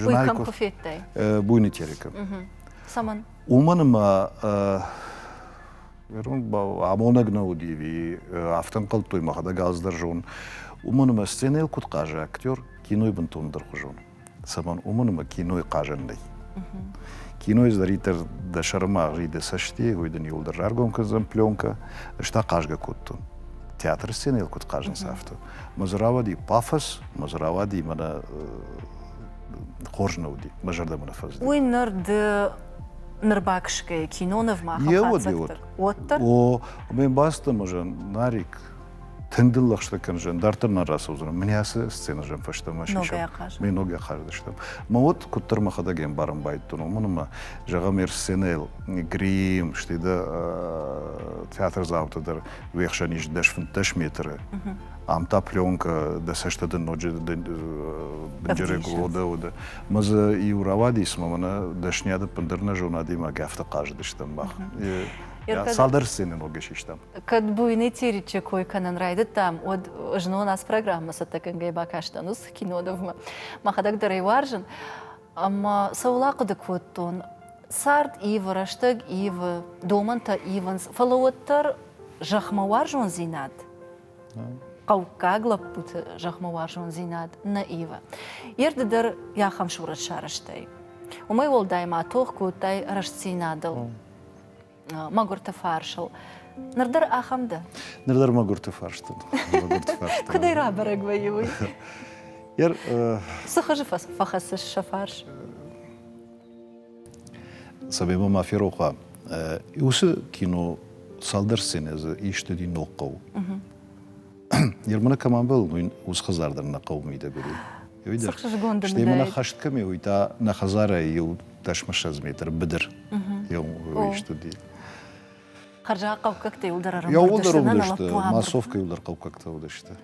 Бой кӕм куы федтай? Буйный терека. Цӕмӕн? Уымӕн ӕмӕ амонӕг нӕ уыди, ӕви афтӕ ӕнхъӕлдтой, мӕхӕдӕг алцыдӕр зон. Уымӕн ӕмӕ сценӕйыл куыд хъазы актер, кинойы бынтондӕр хуызон. цӕмӕн, уымӕн ӕмӕ кинойы хъазӕн нӕй. Кино издаритор дӕ сӕрмӕ гъи дӕ цӕсти, уый дын иуылдӕр раргом кӕндзӕн пленкӕ. Ӕз та хъазгӕ кодтон. Театры сценӕйыл куыд хъазынц афтӕ. Мӕ дзы рауади пафос, мӕ дзы рауади мӕнӕ хорз нӕ уыди, мӕ зӕрдӕмӕ нӕ фӕзыди. Уый ныр ды ныр баксгӕ кинонывмӕ уӕд, уӕддӕр? О, ме мбӕлццӕн мӕ зӕн Нарик тынг дыл лӕгъстӕ кӕндзӕн, дарддӕр нӕ рацӕудзӕн. Мӕн ацы сценӕзӕн фӕстӕмӕ сисӕм. Мӕ ногӕй ахъазыдыстӕм. Мӕ уӕд куыддӕр мӕхӕдӕг ӕмбарын байтдтон, уымӕн ӕмӕ, зӕгъӕм, ӕр сценӕйыл Грим, стӕй дӕ театрдзауты дӕр уе хсӕн ис дӕс-фынддӕс метры. Ам та пленкӕ, дӕ цӕстӕ дын ноджы бынджырӕй гуылоды Мӕ дзы иу рауадис ӕмӕ мӕнӕ дӕсныйад ӕппындӕр нӕ зонадимӕ афтӕ хъазыдыстӕм мах. Цалдӕр сценӕ ногӕй систам. Кӕд буйный Теричы кой кӕнын райдыдтам, уӕд знон ацы программӕ цӕттӕгӕнгӕй бакастӕн ус Кинодовмӕ. Мӕхӕдӕг дӕр ӕй уарзын. Ӕмӕ сӕ уыл ахъуыды кодтон. Цард ивы, рӕстӕг ивы, домӕнтӕ ивынц, фӕлӕ уӕддӕр зӕхмӕ уарзондзинад, хъӕуккаг лӕппуты зӕхмӕ уарзондзинад нӕ ивы. Йе рды дӕр ахӕм сурӕт сарӕзтай. Уымӕй уӕлдай ма тох кодтай рӕстдзинадыл. мӕгуырты фарсыл. Ныр дӕр ахӕм дӕ? Ныр дӕр мӕгуырты фарст мӕгуырты фарст. Куыдӕй рабӕрӕг вӕййы уый? Цы хызы фӕхӕцыс сӕ фарс? Сабеймӕ ма ферох уа, уыцы кино цалдӕр сценӕ дзы ист уыди ног хъӕу. Ермана кӕм амбӕлын, уый уыцы хӕдзар дӕр нӕ хъӕуы мидӕг уыди. Стӕй мӕ хӕст кӕм и, уый та нӕ хӕдзарӕй иу дӕсмассӕдз метр быдыр йӕ ист уыди. Хӕрзаг хъӕуккӕгтӕ иуылдӕр ӕрӕмбырд йӕ уӕлдӕр уыдысты, массовкӕ иуылдӕр хъӕуккӕгтӕ уыдысты.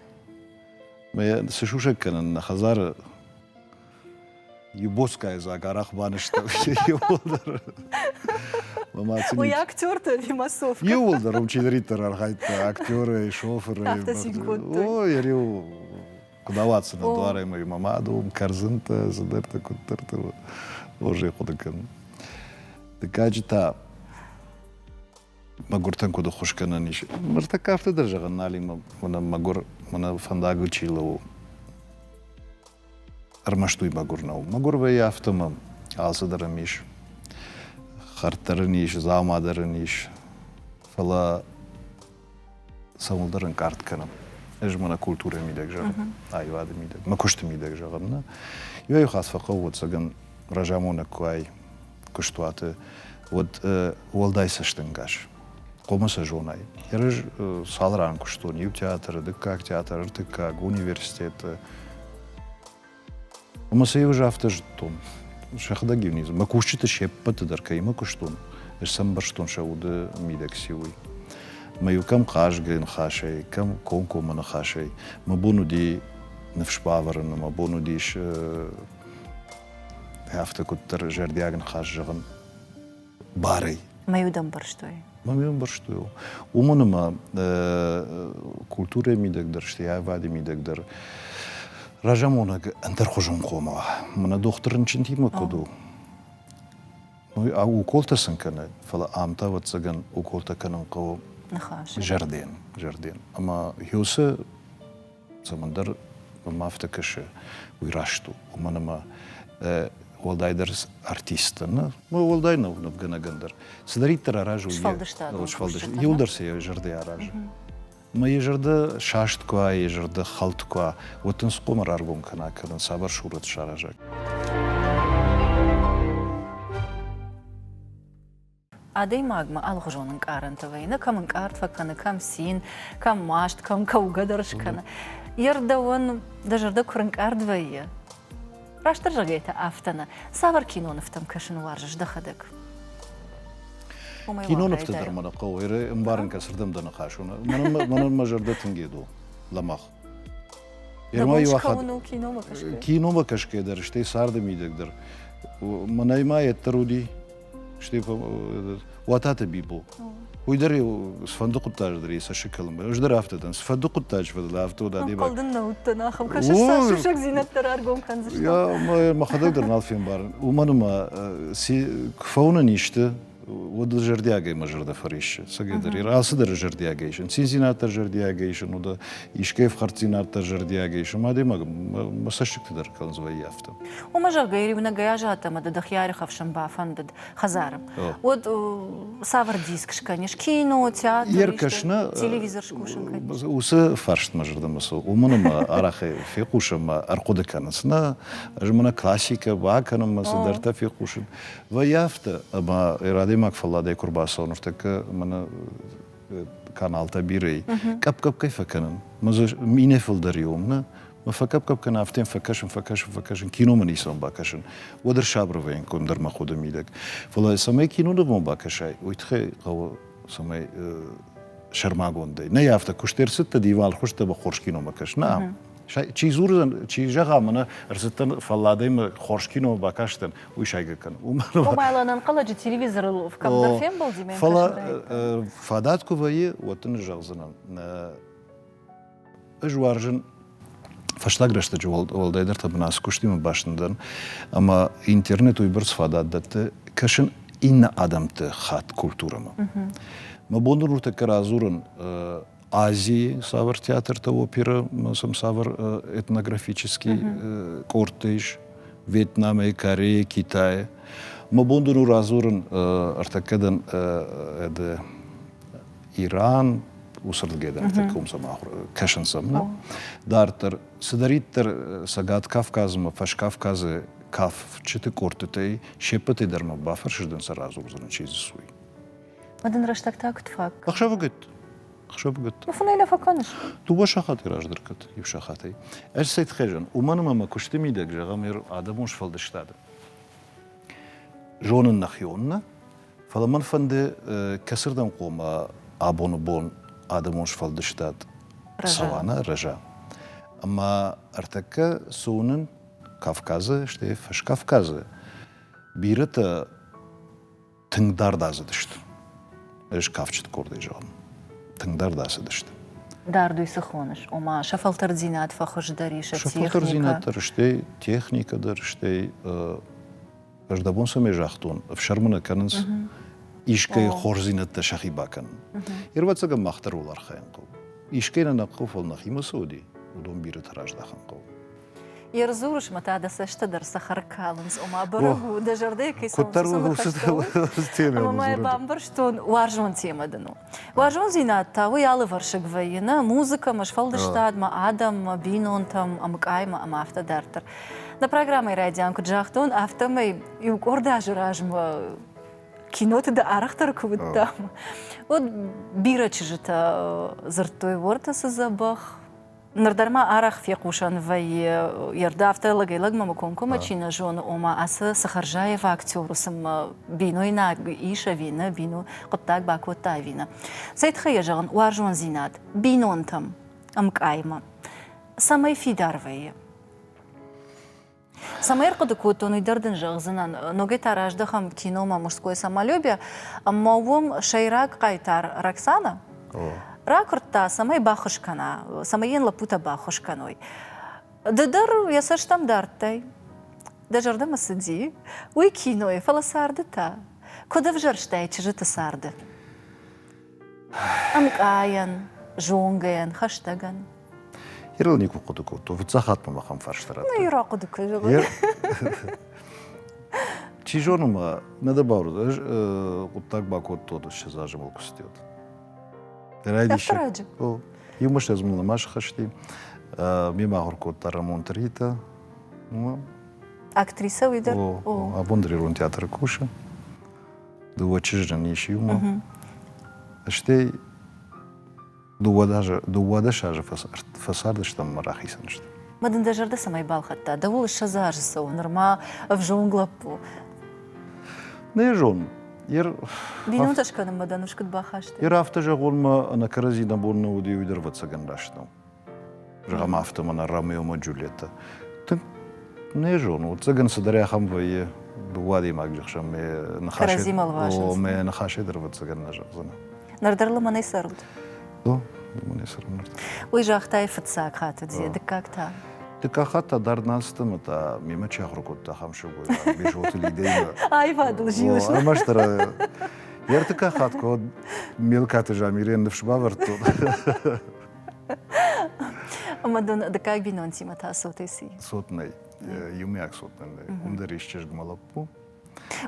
Мӕ цы сусӕг кӕнын, нӕ хӕдзары Ебоцкая дзаг арах банызтал иууылдӕр. Уый актерты Лимасов. Иууылдӕр уым чидӕриддӕр архайдта, актеры, шофыры. Ой, риу куыд ауадздзынӕ дуарӕмӕ мӕ мады уым кӕрдзынтӕ, цыдӕртӕ, куыддӕртӕ хорзӕй хъуыды кӕнын. Дыккаджы та мӕгуыртӕн куыд ӕххуыс кӕнӕн ис. Ныртӕккӕ афтӕ дӕр зӕгъын нал и, мӕнӕ мӕгуыр, мӕнӕ фӕндагыл чи лӕууы. Ӕрмӕст уый мӕгуыр нӕу. Мӕгуыр вӕййы афтӕ мӕ алцыдӕр ын ис. Хӕрддӕр ын ис, дзаумадӕр ын ис. Фӕлӕ цӕуылдӕр ӕнкъард кӕнӕм. Ӕз мӕнӕ культурӕйы мидӕг зӕгъын, аивады мидӕг, мӕ куысты мидӕг зӕгъын нӕ. Иуӕй-иу хатт фӕхъӕуы ӕцӕгӕн разамонӕг куы уай, куыстуаты, уӕд уӕлдай цӕстӕнгас хъомы сӕ зонай. Ерыс цал ран куыстон иу театры, дыккаг театр, ӕртыккаг, университеты. Ӕмӕ сӕ иу афтӕ зыдтон. Сӕхӕдӕг иу Мӕ кусджыты се ппӕты дӕр кӕимӕ куыстон, ӕз сӕмбӕрстон сӕ уды мидӕг сиуй. Мӕ иу кӕм хъазгӕ ныхасӕй, кӕм комкоммӕ ныхасӕй. Мӕ бон уыди ныфс бавӕрын, мӕ бон уыдис Афтӕ куыддӕр зӕрдиаг ныхас зӕгъын барӕй. Мӕ уд ӕмбӕрстой. Мӕ уд ӕмбӕрстой. Уымӕн ӕмӕ культурӕйы мидӕг дӕр, стӕй аивады мидӕг дӕр разамонӕг ӕндӕрхуызон хъома уа. Мӕнӕ дохтыр рынчынтимӕ куыд у. Уколтӕ сын кӕны, фӕлӕ ам та, ӕвӕццӕгӕн, уколтӕ кӕнын хъӕуы. Ныхас. Зӕрден, зӕрден. Ӕмӕ Ёсе цӕмӕндӕр мӕм афтӕ кӕсы, уый раст у. Уымӕн ӕмӕ уӕлдайдӕр артисттӕ, ну, уӕлдай нывгӕнӕгӕн дӕр, цыдӕриддӕр аразой, сфӕлдыстад иуылдӕр сӕ йӕ зӕрдӕ аразы. Ӕмӕ йӕ зӕрдӕ саст куы уа, йӕ зӕрдӕ хӕлд куы уа, уӕд ын схъомӕ раргом кӕна, кӕнӕ цавӕр сурӕт сараза. Адӕймагмӕ алгъуызон ӕнкъарӕнтӕ вӕййы, нӕ кӕм ӕнкъард фӕкӕны, кӕм цин, кӕм маст, кӕм кӕугӕ дӕр скӕны. Йе рдӕуӕн дӕ зӕрдӕ куы рынкъард вӕййы, растдӕр зӕгӕй та афтӕ нӕ, цавӕр кинонывтӕм кӕсын уарзыс дӕхӕдӕг? Кинонывты дӕр мӕ нӕ хъӕуы. Ӕмбарын кӕ, цырдӕм дӕ ныхас уыны. Мӕнӕн мӕ зӕрдӕ тынг гед у. Лӕмӕгъ. Киномӕ кӕсгӕ дӕр, стӕй царды мидӕг дӕр. Мӕнӕй ма йеддӕр уыди Уататы Бибо. Уый дӕр сфӕнды хъуыддаджы дӕр йӕ цӕссыг кӕлынмӕ. Ӕз дӕр афтӕ дӕн. Сфӕнды хъуыддаджы фӕдыл афтӕ уыд адӕймаг. Хъӕлдын нӕ уыдтӕн ахӕм. Кӕсыс сӕ сусӕгдзинӕдтӕ раргом кӕндзыстӕм. Я, мӕ мӕхӕдӕг дӕр нал фембарын. Уымӕн ӕмӕ куы фӕуынӕн исты, уӕд ыл зӕрдиагӕй мӕ зӕрдӕ фӕриссы. Цӕгӕдӕр ир алцыдӕр зӕрдиагӕй сын, циндзинад дӕр зӕрдиагӕй сын, уыд искӕй ӕфхӕрддзинад дӕр зӕрдиагӕй сын, адӕймаг мӕ цӕссыгты дӕр кӕлынц вӕййы афтӕ. Уымӕ, зӕгъгӕ, йӕ риунӕгӕй азадт ӕмӕ ды дӕхи ӕрхӕфсын бафӕндыд хӕдзары. Уӕд цавӕр диск скӕнис? Кино, театр, Йе ркӕсыны телевизор скусын кӕнис? Уыцы фарст мӕ зӕрдӕмӕ цӕуы, уымӕн ӕмӕ арӕхӕй фехъусын ӕмӕ ӕрхъуыды кӕнынц, нӕ, ӕз мӕнӕ классикӕ бакӕнынмӕ цыдӕртӕ фехъусын вӕййы афтӕ, ӕмӕ йӕ адӕймаг фӕлладӕй куы рбацӕуа ныртӕккӕ мӕнӕ каналтӕ бирӕй къӕпкъӕпкӕй фӕкӕнын мӕ дзы минӕ фылдӕр и ом нӕ мӕ фӕкъӕпкъӕп кӕна афтӕ фӕкӕсын фӕкӕсын фӕкӕсын кино мын исон бакӕсын уӕд ӕр сабырвӕйын конд дӕр мӕ ходы мидӕг фӕлӕ цӕмӕй кино дывон бакӕсай уый тыххӕй хъӕуы цӕмӕй сӕрмагондӕй нӕй афтӕ куыст ӕрцыдтӕ диван хуызтӕ ба хорз киномӕ кӕс нӕ Чи дзурдзӕн, чи зӕгъӕм, ӕнӕ ӕрцыдтӕн фӕлладӕй хорз кино бакастӕн, уый сайгӕ кӕн. Комайлӕн ӕнхъӕлӕджы телевизорыл кӕмдӕр фембӕлди ме Фӕлӕ фадат куы вӕййы, уӕд дын зӕгъдзынӕн. Ӕз уарзын фӕстаг рӕстӕджы уӕлдайдӕр та бын ацы куыстимӕ басын дӕн, ӕмӕ интернет уыйбӕрц фадат дӕтты кӕсын иннӕ адӕмты хатт культурӕмӕ. Мӕ бон дӕр уыртӕккӕ радзурын Азии цавӕр театртӕ оперӕ сӕм цавӕр этнографический къордтӕ ис Вьетнамӕй, Корея, Китайы. Мӕ бон дӕр у радзурын ӕртӕккӕ дӕн Иран, усырдгӕ дӕн ӕртӕккӕ уым сӕм кӕсын сӕм. Дарддӕр, цыдӕриддӕр Цӕгат Кавказмӕ, Фӕскавказы кафджыты къордтытӕй се ппӕтӕй дӕр мӕ бафӕрсыздӕн сӕ радзурдзӕн, чи дзы суй. Мӕ дын рӕстӕг та куыд фаг? Ӕхсӕвыгӕтт. Ӕхсӕвыгӕтт. Мӕ фынӕй лӕ фӕкӕныс? Дыууӕ сахатӕй раздӕр кӕд, иу сахатӕй. Ӕз Сетхъезӕн, уымӕн ӕмӕ мӕ куысты мидӕг, зӕгъӕм, ӕр адӕмон сфӕлдыстады зонын нӕхи оннӕ, фӕлӕ мӕн фӕнды, кӕцырдӕм хъома абоны бон адӕмон сфӕлдыстад цӕуа, нӕ рӕза. Ӕмӕ ӕртӕккӕ цы уынын Кавказы, стӕй Фӕскавказы бирӕтӕ тынгдӕр дӕ цыдысты. Ӕз кафджыты къордӕй зӕгъын. Тынгдӕр дӕ цыдысты. Дард уый цы хоныс, ома сӕ фӕлтӕрддзинад фӕхуыздӕр ис сӕ фӕлтӕрддзинад дӕр, стӕй техникӕ дӕр, стӕй ӕз дӕ бон цӕмӕй загътон, ӕфсӕрмы нӕ кӕнынц, искӕй хорздзинӕдтӕ сӕхи бакӕнын. Ирвӕццӕгӕн мах дӕр уал архайын хъӕуы. Искӕй нӕ нӕ хъӕуы, фӕлӕ нӕхимӕ цы уыди, уыдон бирӕтӕ раздахын хъӕуы. Йе рдзурысмӕ та дӕ цӕстӕ дӕр цӕхӕр калынц, ома бӕрӕг у, дӕ зӕрдӕйы кӕй цӕуы. Ӕмӕ мӕ бамбӕрстон, уарзон темӕ дын у. Уарзондзинад та уый алывӕрсыг вӕййы, нӕ музыкӕмӕ, сфӕлдыстадмӕ, адӕммӕ, бинонтӕм, ӕмкъаймӕ ӕмӕ афтӕ дарддӕр. Нӕ программӕйы райдиан куыд загътон, афтӕмӕй иу къорд азы размӕ киноты дӕ арӕхдӕр куы уыдтам, уӕд бирӕ чызджытӕ дзырдтой Уорта цы дзӕбӕх, Ныр дӕр ма арӕх фехъусӕн вӕййы, ерды афтӕ лӕгӕй-лӕгмӕ комкоммӕ чи нӕ зоны, ома ацы сыхӕрзаев актер уысммӕ бинойнаг ис ӕви нӕ, бино хъуыддаг бакодта ӕви нӕ. Цӕй тыххӕй йӕ зӕгъын, уарзондзинад бинонтӕм ӕмкъаймӕ цӕмӕй фидар вӕййы? Цӕмӕй ӕрхъуыды кодтон, уый дӕр дын зӕгъдзынӕн. Ногӕй та раздӕхӕм киномӕ Мужское самолюбие ӕмӕ уым сӕйраг хъайтар Роксанӕ ракуырдта, цӕмӕй баххуыс кӕна, цӕмӕй йын лӕппутӕ баххуыс кӕной. Ды дӕр йӕ цӕстӕм дардтай. Дӕ зӕрдӕмӕ цыди уый кинойы, фӕлӕ царды та? Куыд ӕвзӕрстай чызджыты царды? ӕмкъайӕн, зонгӕйӕн, хӕстӕгӕн. Ирыл никуы хъуыды кодтон, фыццахатт мӕм ахӕм фарста радта. Иры ахъуыды куы зӕгъой. Чи зоны ма, нӕ дӕ бауырдз, хъуыддаг бакодтон, ссӕдз азы мыл куы цыдӕуыд. Райдиссаг. Иу мыстӕдз мыл нӕма схызти. Ме махуыр кодта Рамон Трита. Актрисӕ уый дӕр? Абон дӕр ирон театры кусы. дыууӕ чызджын ис иумӕ. Стӕй дыууадӕс азы фӕцардыстӕм мӕ рахицӕн сты. Ма дын дӕ зӕрдӕ цӕмӕй балхӕдта? Дӕуыл ссӕдз азы цӕуы нырма ӕвзонг лӕппу. Нӕ зонын. Ер... Бинонтӕ скӕнынмӕ дӕ ныфс куыд бахастай? Ер афтӕ зӕгъонмӕ ӕнӕ кӕрӕдзи нӕ бон нӕ уыди уый дӕр ӕвӕццӕгӕн раст нӕу. зӕгъӕм афтӕ мӕнӕ ромео джульетта ты не зону цӕгӕн цыдӕр ахӕм вӕййы дыууӕ адӕймаджы хсӕн мӕ ныхасӕй мӕ ныхасӕй дӕр ӕвӕццӕгӕн нӕ зӕгъдзӕн ныр дӕр лымӕнӕй цӕрут о лымӕнӕй цӕрын ныр уый загътай фыццаг хатт уыдзе дыккаг та дыккаг хатт та дӕр нӕ сты мӕ та мемӕ чи ахуыр кодта ахӕм сылгоймаг бежоты лидӕимӕ аивадыл зилыс ӕрмӕстдӕр йӕ ӕртыккаг хатт куы мелкаты замирӕн ныфс бавӕрдтон Ӕма дон дыккаг бинонтимӕ та цотӕй ци? Цотнӕй, еумиаг цотнӕй нӕй. Уым дӕр исчызгмӕ лӕппу.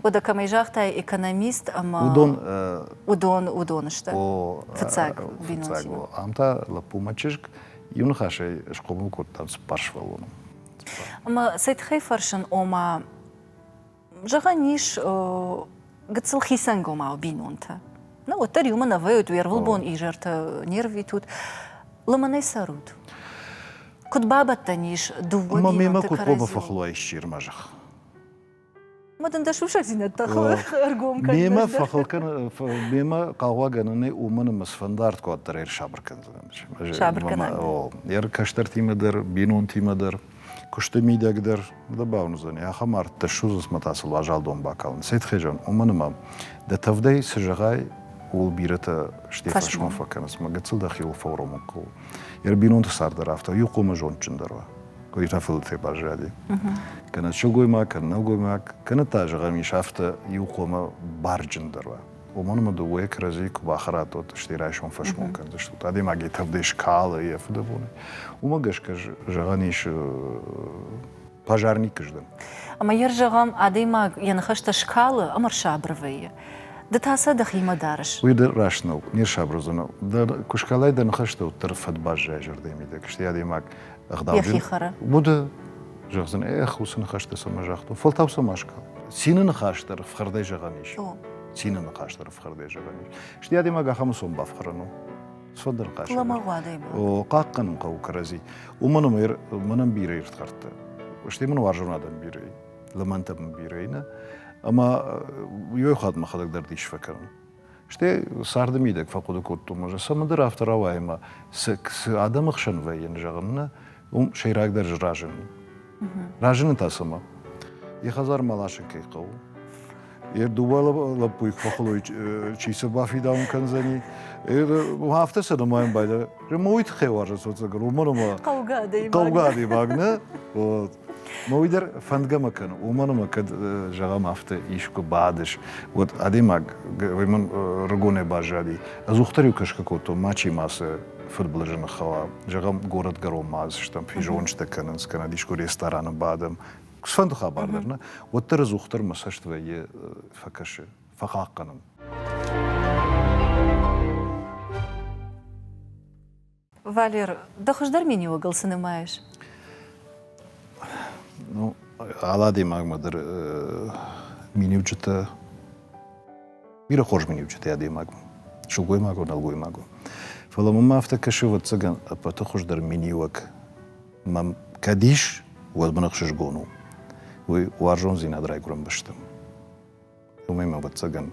Уӕдӕ кӕмӕй загътай, экономист ӕма... Уыдон... Уыдон, уыдон сты. Фыццаг бинонтимӕ. Ам та лӕппумӕ чызг иу ныхасӕй схъомыл кодта цыппар сывӕллоны. Ӕмӕ сӕ тыххӕй фӕрсын, ома, Зӕгъӕн ис гыццыл хицӕнгомау бинонтӕ. Нӕ уӕддӕр иумӕ нӕ вӕййут, уе рвылбон изӕртӕ не рвитут. Лымӕнӕй цӕрут. Куыд бабӕттӕн ис дыууӕ Ма мемӕ куыд хъомы фӕхлой ссир мӕ зӕхх? Ма дын дӕ сусӕгдзинӕдтӕ ӕргом кӕн. Мемӕ фӕхыл кӕн, мемӕ хъаугъагӕнӕнӕй уымӕн ӕмӕ сфӕндард куаддӕр ӕрсабыр кӕндзӕн. Сабыр кӕнӕн. Ӕр кӕстӕртимӕ дӕр, бинонтимӕ дӕр куысты мидӕг дӕр дӕ бауындзӕни. Ахӕм ӕрдтӕ ссудзынцмӕ та сыл уазалдон бакалын. Сетхезӕн, уымӕн ӕмӕ дӕ тӕвдӕй цы зӕгъай, ууыл бирӕтӕ Стефасмӕ фӕкӕнынц, мӕ гыццыл дӕхиуыл фӕуромын хъӕуы. Йе ры бинонты цард дӕр афтӕ, иу хъумӕ зондджындӕр уа. Къуырифӕфылдтӕй баззади. Кӕнӕ сылгоймаг, кӕнӕ нӕлгоймаг, кӕнӕ та, зӕгъӕм, ис афтӕ, иу хъумӕ барджындӕр уа. уымӕн ӕмӕ дыууӕ кӕрӕдзийы куы бахӕрат, уӕд стӕй райсом фӕсмон кӕндзыстут. Адӕймагӕй тӕвдӕй скалы йӕ фыдӕбонӕй. Уымӕ гӕсгӕ зӕгъӕн ис пожарник здӕн. Ӕмӕ йӕ зӕгъӕм, адӕймаг йӕ ныхӕстӕ скалы ӕмӕ рсабыр вӕййы. Ды та сӕ дӕхимӕ дарыс. Уый дӕр раст нӕу, не рсабыр уыдзӕн. Куы скалай дӕ ныхӕстӕ, уӕддӕр фӕд баззайы зӕрдӕйы мидӕг, стӕй адӕймаг Йӕхи хӕры. Уды. Зӕгъдзӕн, эх, уыцы ныхӕстӕ цӕмӕ загътон. Фӕлтау цӕмӕ скал. Цины ныхас дӕр ӕфхӕрдӕй зӕгъӕн ис. Цины ныхас дӕр ӕфхӕрдӕй зӕгъӕн ис. Стӕй адӕймаг ахӕм усон бафхӕрын у. Сфӕлдӕр хъӕсӕн. Лӕмӕгъ адӕймаг. О, хъахъхъӕнын хъӕуы кӕрӕдзи. Уымӕн ӕмӕ мӕнӕн бирӕ ирдхӕрдтӕ. Стӕй мын уарзон адӕм бирӕ и. Лӕмӕнтӕ мын бирӕ и нӕ. Ӕмӕ иу хатт мӕхӕдӕг дӕр дис фӕкӕнын. Стӕй царды мидӕг фӕхъуыды кодтон, ӕз цӕмӕндӕр афтӕ рауайы ӕмӕ цы адӕмы хсӕн вӕййын, зӕгъын, нӕ, уым сӕйрагдӕр разыны. Разыны та цымӕ? Йӕ хӕдзармӕ ласын кӕй хъӕуы. Йӕ дыууӕ лӕппуйы куы фӕхылой, чи цы бафидауын кӕндзӕни. Афтӕ сӕ нымайын байдайы. Ма уый тыххӕй уарзын содзӕгӕр, уымӕн ӕмӕ хъӕугӕ адӕймаг. Хъӕугӕ адӕймаг, нӕ? Вот. Ма уый дӕр фӕндгӕ ма кӕны, уымӕн ӕмӕ кӕд зӕгъӕм афтӕ искуы бадыс, уӕд адӕймаг уымӕн рыгонӕй баззади. Ӕдзух дӕр-иу кӕсгӕ кодтон, мачи ма цы фыдбылызы ныххауа. Зӕгъӕм, горӕтгӕронмӕ стӕм, физонджытӕ кӕнынц, кӕнӕ искуы рестораны бадӕм. Цыфӕнды хабар дӕр нӕ, уӕддӕр ӕдзухдӕр мӕ цӕст вӕййы фӕкӕсы, фӕхъахъхъӕнын. Валер, ды хуыздӕр менеуӕгыл цы нымайыс? Ну, алы адӕймагмӕ дӕр миниуджытӕ бирӕ хорз миниуджытӕ адӕймагмӕ сылгоймаг у, нӕлгоймаг у. Фӕлӕ мын ма афтӕ кӕсы, ӕвӕццӕгӕн, ӕппӕты хуыздӕр миниуӕг мӕм кӕд ис, уӕд мын ӕхсызгон у. Уый уарзондзинад райгуырӕн бӕстӕм. Уымӕй ма ӕвӕццӕгӕн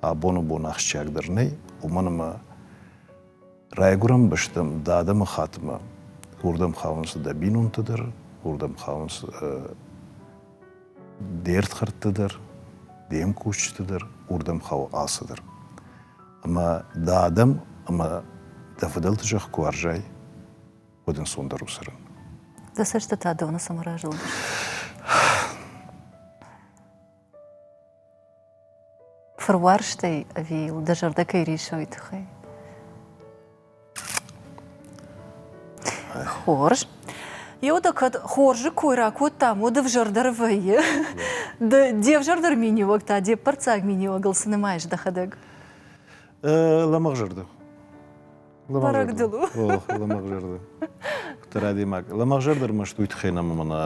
абон у бон ахсджиагдӕр нӕй, уымӕн ӕмӕ Райгуырӕн бӕсты адӕмыхаттмӕ уырдӕм хауынц дӕ бинонтӕ дӕр, уырдӕм хауынц де рдхӕрдтӕ дӕр, де мкусджытӕ дӕр, уырдӕм хауы ацы дӕр. Ӕмӕ дӕ адӕм ӕмӕ дӕ фыдӕлты зӕхх куы уарзай, уӕд ӕнцондӕр у цӕрын. Дӕ цӕстытӕ доны цӕмӕ разылдысты? фыруарзтӕй ӕви йыл дӕ зӕрдӕ кӕй рисой тыххӕй? Хорз. Еу дӕ кӕд хорзы кой ракодтам, уӕд ӕвзӕрдӕр вӕййы. Ды де взӕрдӕр миниуӕг та де ппӕрццаг миниуӕгыл цы нымайыс дӕхӕдӕг? Лӕмӕгъзӕрдӕ. Бӕрӕг дыл у. О, лӕмӕгзӕрдӕ. Хъуыддӕр адӕймаг. Лӕмӕгзӕрдӕ ӕрмӕст уый тыххӕй нӕма мӕнӕ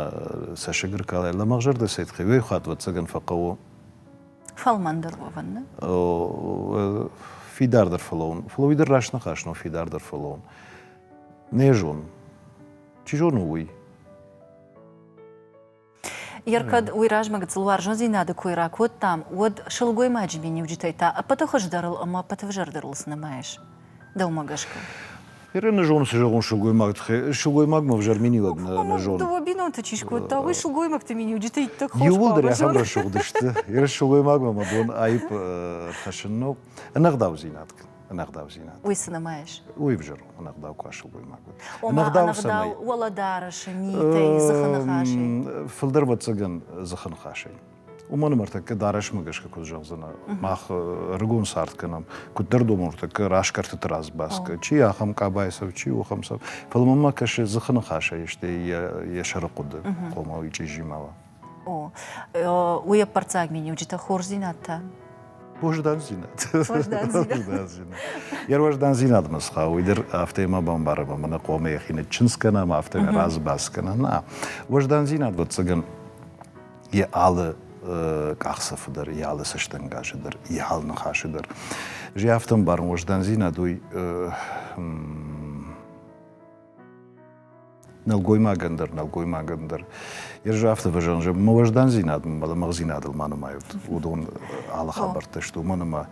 цӕссыг ӕркалай. Лӕмӕгзӕрдӕ цӕй тыххӕй? Уый хатт вӕццӕгӕн фӕхъӕуы фӕлмӕндӕр уӕвын. Фидардӕр фӕлӕуын. Фӕлӕ уый дӕр раст ныхас у, фидардӕр фӕлӕуын. Не зон. Чи зоны, уый. Йер кӕд уый размӕ гыццылуарзондзинады кой ракодтам, уӕд сылгоймаджы миниуджытӕй та ӕппӕты хуыздӕрыл ӕмӕ ӕппӕты взӕрдӕрыл цы нымайыс? Дӕумӕ гӕсгӕ? Иры нӕ зонын, цы зӕгъон сылгоймаг тыххӕй. Сылгоймагмӕ ӕвзӕр миниуӕг нӕ, нӕ зонын. Дыууӕ бинонты чи скодта, уый сылгоймӕгты миниуджытӕ иттӕг хорз Иууылдӕр ахӕм рӕсугъд сты. Иры сылгоймагмӕ мӕ бон аипп ӕрхӕссын у. Ӕнӕгъдаудзинад кӕн. ӕнӕгъдаудзинад. Уый цы нымайыс? Уый ӕвзӕр у, ӕнӕгъдау куы асылгоймаг уыд. Ома, ӕнӕгъдау уӕлӕдарӕсы митӕй, дзыхы ныхасӕй. Фылдӕр ӕвӕццӕгӕн дзыхы ныхасӕй. Уымӕн ӕмӕ ӕртӕккӕ дарӕсмӕ гӕсгӕ куыд зӕгъдзынӕ, мах ӕрыгон цард кӕнӕм, куыддӕр домӕм ӕртӕккӕ раз кӕртыты раз бӕцгӕ, чи ахӕм къабайы цӕф, чи ухӕм цӕф. Фӕлӕ мӕнмӕ кӕсы, дзыхы ныхасӕй, стӕй йӕ сӕрыхъуыды хъомыл и чъизимӕ. уый ӕппӕрццаг миниуджытӕ хорздзинӕдтӕ Ервӕздандзинадмӕ схауы, уый дӕр афтӕ ма бамбарӕм, ӕмӕ нӕ хъомӕ йӕхи нӕ чындз кӕнӕм, афтӕ разы бац кӕнӕм. Нӕ, уӕздандзинад, ӕвӕццӕгӕн, йӕ алы къахдзӕфы дӕр, йӕ алы цӕстӕнгасы дӕр, йӕ алы ныхасы дӕр. Ӕз афтӕ ӕмбарын, уӕздандзинад уый нӕлгоймагӕн дӕр, нӕлгоймагӕн дӕр. Ес афтӕ фӕзӕн, зӕгъ, мӕ уӕздандзинад мӕ лӕмӕгъдзинадыл ма нымайут, уыдон алы хабӕрттӕ сты, уымӕн ӕмӕ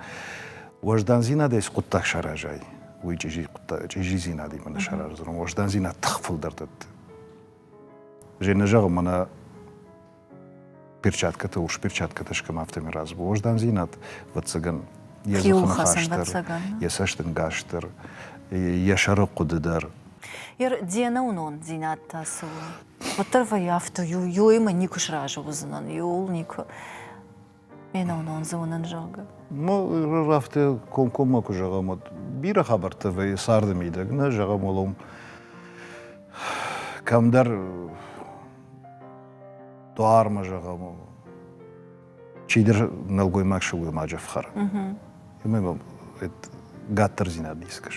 уӕздандзинадӕй цы хъуыддаг саразай, уый чъизидзинадимӕ нӕ сараздзӕн. Уӕздандзинад тых фылдӕр дӕтты. Женя зӕгъы, мӕнӕ перчаткӕтӕ, урс перчаткӕтӕ скӕм, афтӕмӕй развоздандзинад, вӕццӕгӕн, йӕ дзыхыныхасдӕр, йӕ цӕстӕнгасдӕр, йӕ сӕрыхъуыды дӕр. Ер де нӕуынондзинад та цы у? Уӕддӕр вӕййы афтӕ, иуимӕ никуы сразы уыдзынӕн, иууыл никуы. Менонон зонын зоны. Ну, афтӕ комкоммӕ куы зӕгъӕм, уӕд бирӕ хабӕрттӕ вӕййы царды мидӕг, нӕ зӕгъӕм, уалом кӕмдӕр дуармӕ зӕгъӕм, чидӕр нӕлгоймаг сылгоймаджы ӕфхӕры. Уымӕй гаттырдзинад искӕс.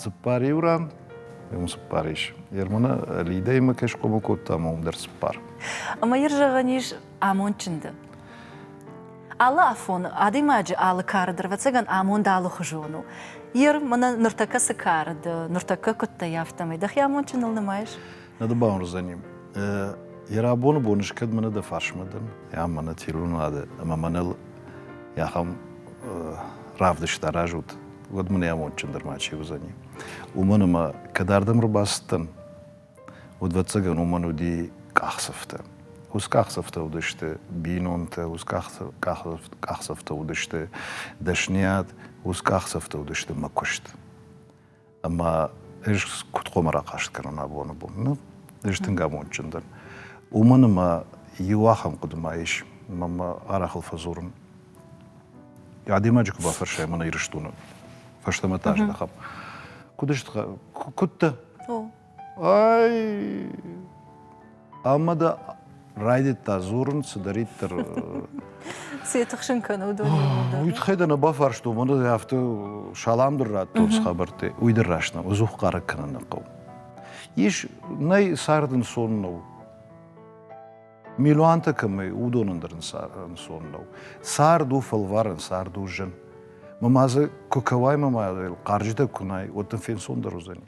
Цыппар иу ран уым цыппар ис. Ермона Лидӕимӕ кӕй схъомыл кодта, ӕмӕ уым дӕр цыппар. Ӕмӕ йыр зӕгъӕн ис амондджынды. Алы афон адӕймаджы алы кары дӕр, ӕвӕццӕгӕн, амонд алыхуызон у. Ер, мӕнӕ ныртӕккӕ цы кары дӕ, ныртӕккӕ куыд дӕ, афтӕмӕй. Дӕхи амондджыныл нымайыс? Нӕ дӕ бауырндзӕним. Йӕ рабоны бон ӕз кӕд мӕнӕ дӕ фарсмӕ дӕн, ӕмӕ мӕнӕ тирлынуады ӕмӕ мӕныл ахӕм равдыст аразут, уӕд мын йӕ амондджындӕр мачи уыдзӕни. Уымӕн ӕмӕ, кӕд ардӕм ӕрбацыдтӕн, удвӕццӕгӕн уымӕн уыди къахдзӕфтӕ. Ус къахдзӕфтӕ уыдысты бинонтӕ, ус къахдзӕфтӕ уыдысты дӕсныйад, ус къахдзӕфтӕ уыдысты мӕ куыст. ӕмӕ ӕз куыд хъуамӕ рахъаст кӕнон абоны бон? Ну, ӕз тынг амондджындӕр. Уымӕн ӕмӕ иу ахӕм хъуыды ма ис, мӕ арахыл фӕдзурын. Адӕймаджы куы бафӕрсай мӕнӕ Ирыстоны фӕстӕмӕ та зӕгъӕм, куыд сты, куыд дӕ? Ай... Ӕмӕ дӕ райдыдта дзурын цыдӕриддӕр. Цы тыхсын кӕны уыдон? Уый тыххӕй дӕ нӕ бафарстон, уӕдӕ афтӕ салам дӕр радтой уыцы хабӕрттӕй. Уый дӕр раст нӕу, ӕдзух хъарӕг кӕнын нӕ хъӕуы. Ис, нӕй цард ӕнцон нӕу. Милуантӕ кӕмӕй, уыдон ӕндӕр ӕнцон нӕу. Цард у фӕлварӕн, цард у зын. Мӕ ма дзы куы кӕуай, мӕ ма хъарджытӕ куы най, уӕд дын фенцондӕр уыдзӕни.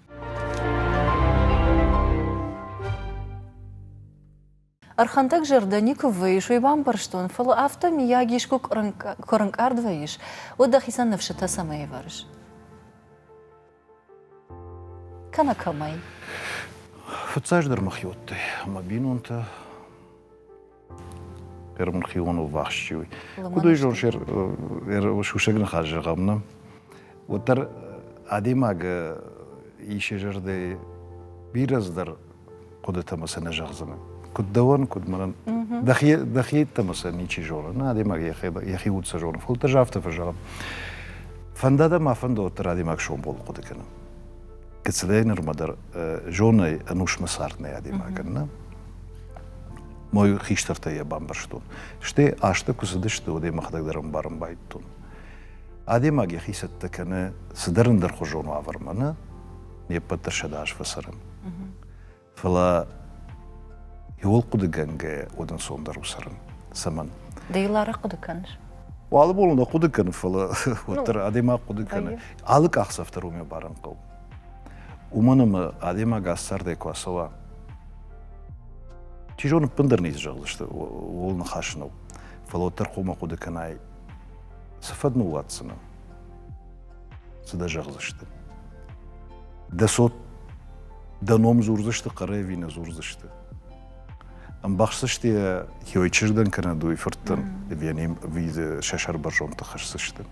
Ӕрхӕндӕг зӕрдӕ никуы вӕййыс, уый бамбӕрстон, фӕлӕ афтӕ, миййаг, искуы куы ӕрӕнкъард вӕййыс, уӕд дӕхицӕн ныфсытӕ цӕмӕй ӕвӕрыс? кӕнӕ кӕмӕй фыццаджыдӕр мӕ хиудтӕй ӕмӕ бинонтӕ ӕрмхион ӕввахс чи уй куд уй зон сусӕг ныхас зӕгъӕм нӕ уӕддӕр адӕймаг исе зӕрдӕйы бирӕ дӕр хъуыдытӕ ма сӕ нӕ зӕгъдзынӕ. Куыд дӕуӕн, куыд мӕнӕн. Дӕхи дӕхи йеддӕмӕ сӕ ничи зоны. Нӕ адӕймаг йӕхи йӕхи уд сӕ зоны. Фӕлӕ ӕз афтӕ фӕзӕгъын. Фӕнда дӕ ма фӕндӕуӕддӕр адӕймаг сомбон хъуыды кӕнын. Кӕцыдӕр нырмӕ дӕр зонай ӕнусмӕ цард нӕй адӕймагӕн, нӕ? Мой хистӕртӕ йӕ бамбӕрстон. Стӕй азтӕ куы цыдысты, уӕдӕй мӕхӕдӕг дӕр ӕмбарын байдтон. Адӕймаг йӕхи цӕттӕ кӕны цыдӕр ӕндӕрхуызон уавӕрмӕ, нӕ? не ппӕтдӕрсӕд аз фӕцӕрын. Фӕлӕ иууыл хъуыдыгӕнгӕйӕ удӕнцондӕр у цӕрын. Цӕмӕн? Ды йыл арӕх хъуыды кӕныс? Алы бон нӕ хъуыды кӕны, фӕлӕ уӕддӕр адӕймаг хъуыды кӕны. Алы къахдзӕф дӕр уымӕ барын хъӕуы. Уымӕн ӕмӕ адӕймаг ас цардӕй куы ацӕуа, чи зоны ӕппындӕр ницы зӕгъдзысты, ууыл ныхас нӕу. Фӕлӕ уӕддӕр хъуамӕ хъуыды кӕнай, цы фӕдыл ныууадздзынӕ? Цы дӕ зӕгъдзысты? Дӕ цот дӕ ном дзурдзысты, хъӕрӕй ӕви нӕ дзурдзысты? Ӕмбӕхсдзысты йӕ йой чызгӕн кӕнӕ дой фырттӕн ӕви ӕви сӕ сӕрбӕрзондты хӕсдзысты.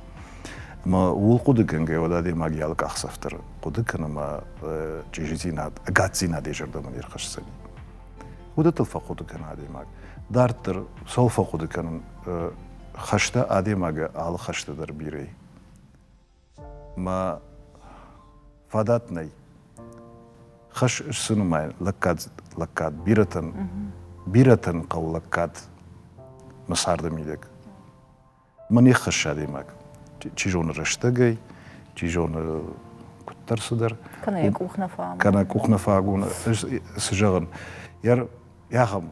Ӕмӕ ууыл хъуыдыгӕнгӕ уӕд адӕймаг йӕ алы къахдзӕф дӕр хъуыды кӕны ӕмӕ чъизидзинад, ӕгаддзинад йӕ зӕрдӕмӕ не рхӕсдзӕни. Хъуыдытыл фӕхъуыды кӕны адӕймаг. Дарддӕр цӕуыл фӕхъуыды кӕнын, хӕстӕ адӕймагы алы хӕсты дӕр бирӕ Мӕ фадат нӕй. Хӕс сты нымайын лӕггад, лӕггад бирӕтӕн, бирӕтӕн хъӕуы лӕггад мӕ царды мидӕг. Мӕ не ххӕссы адӕймаг, чи зоны рӕстӕгӕй, чи зоны куыддӕр цыдӕр. Кӕнӕ йӕ къух нӕ фӕамон. Кӕнӕ къух нӕ фӕамон. Ӕз цы зӕгъын? Йӕ ахӕм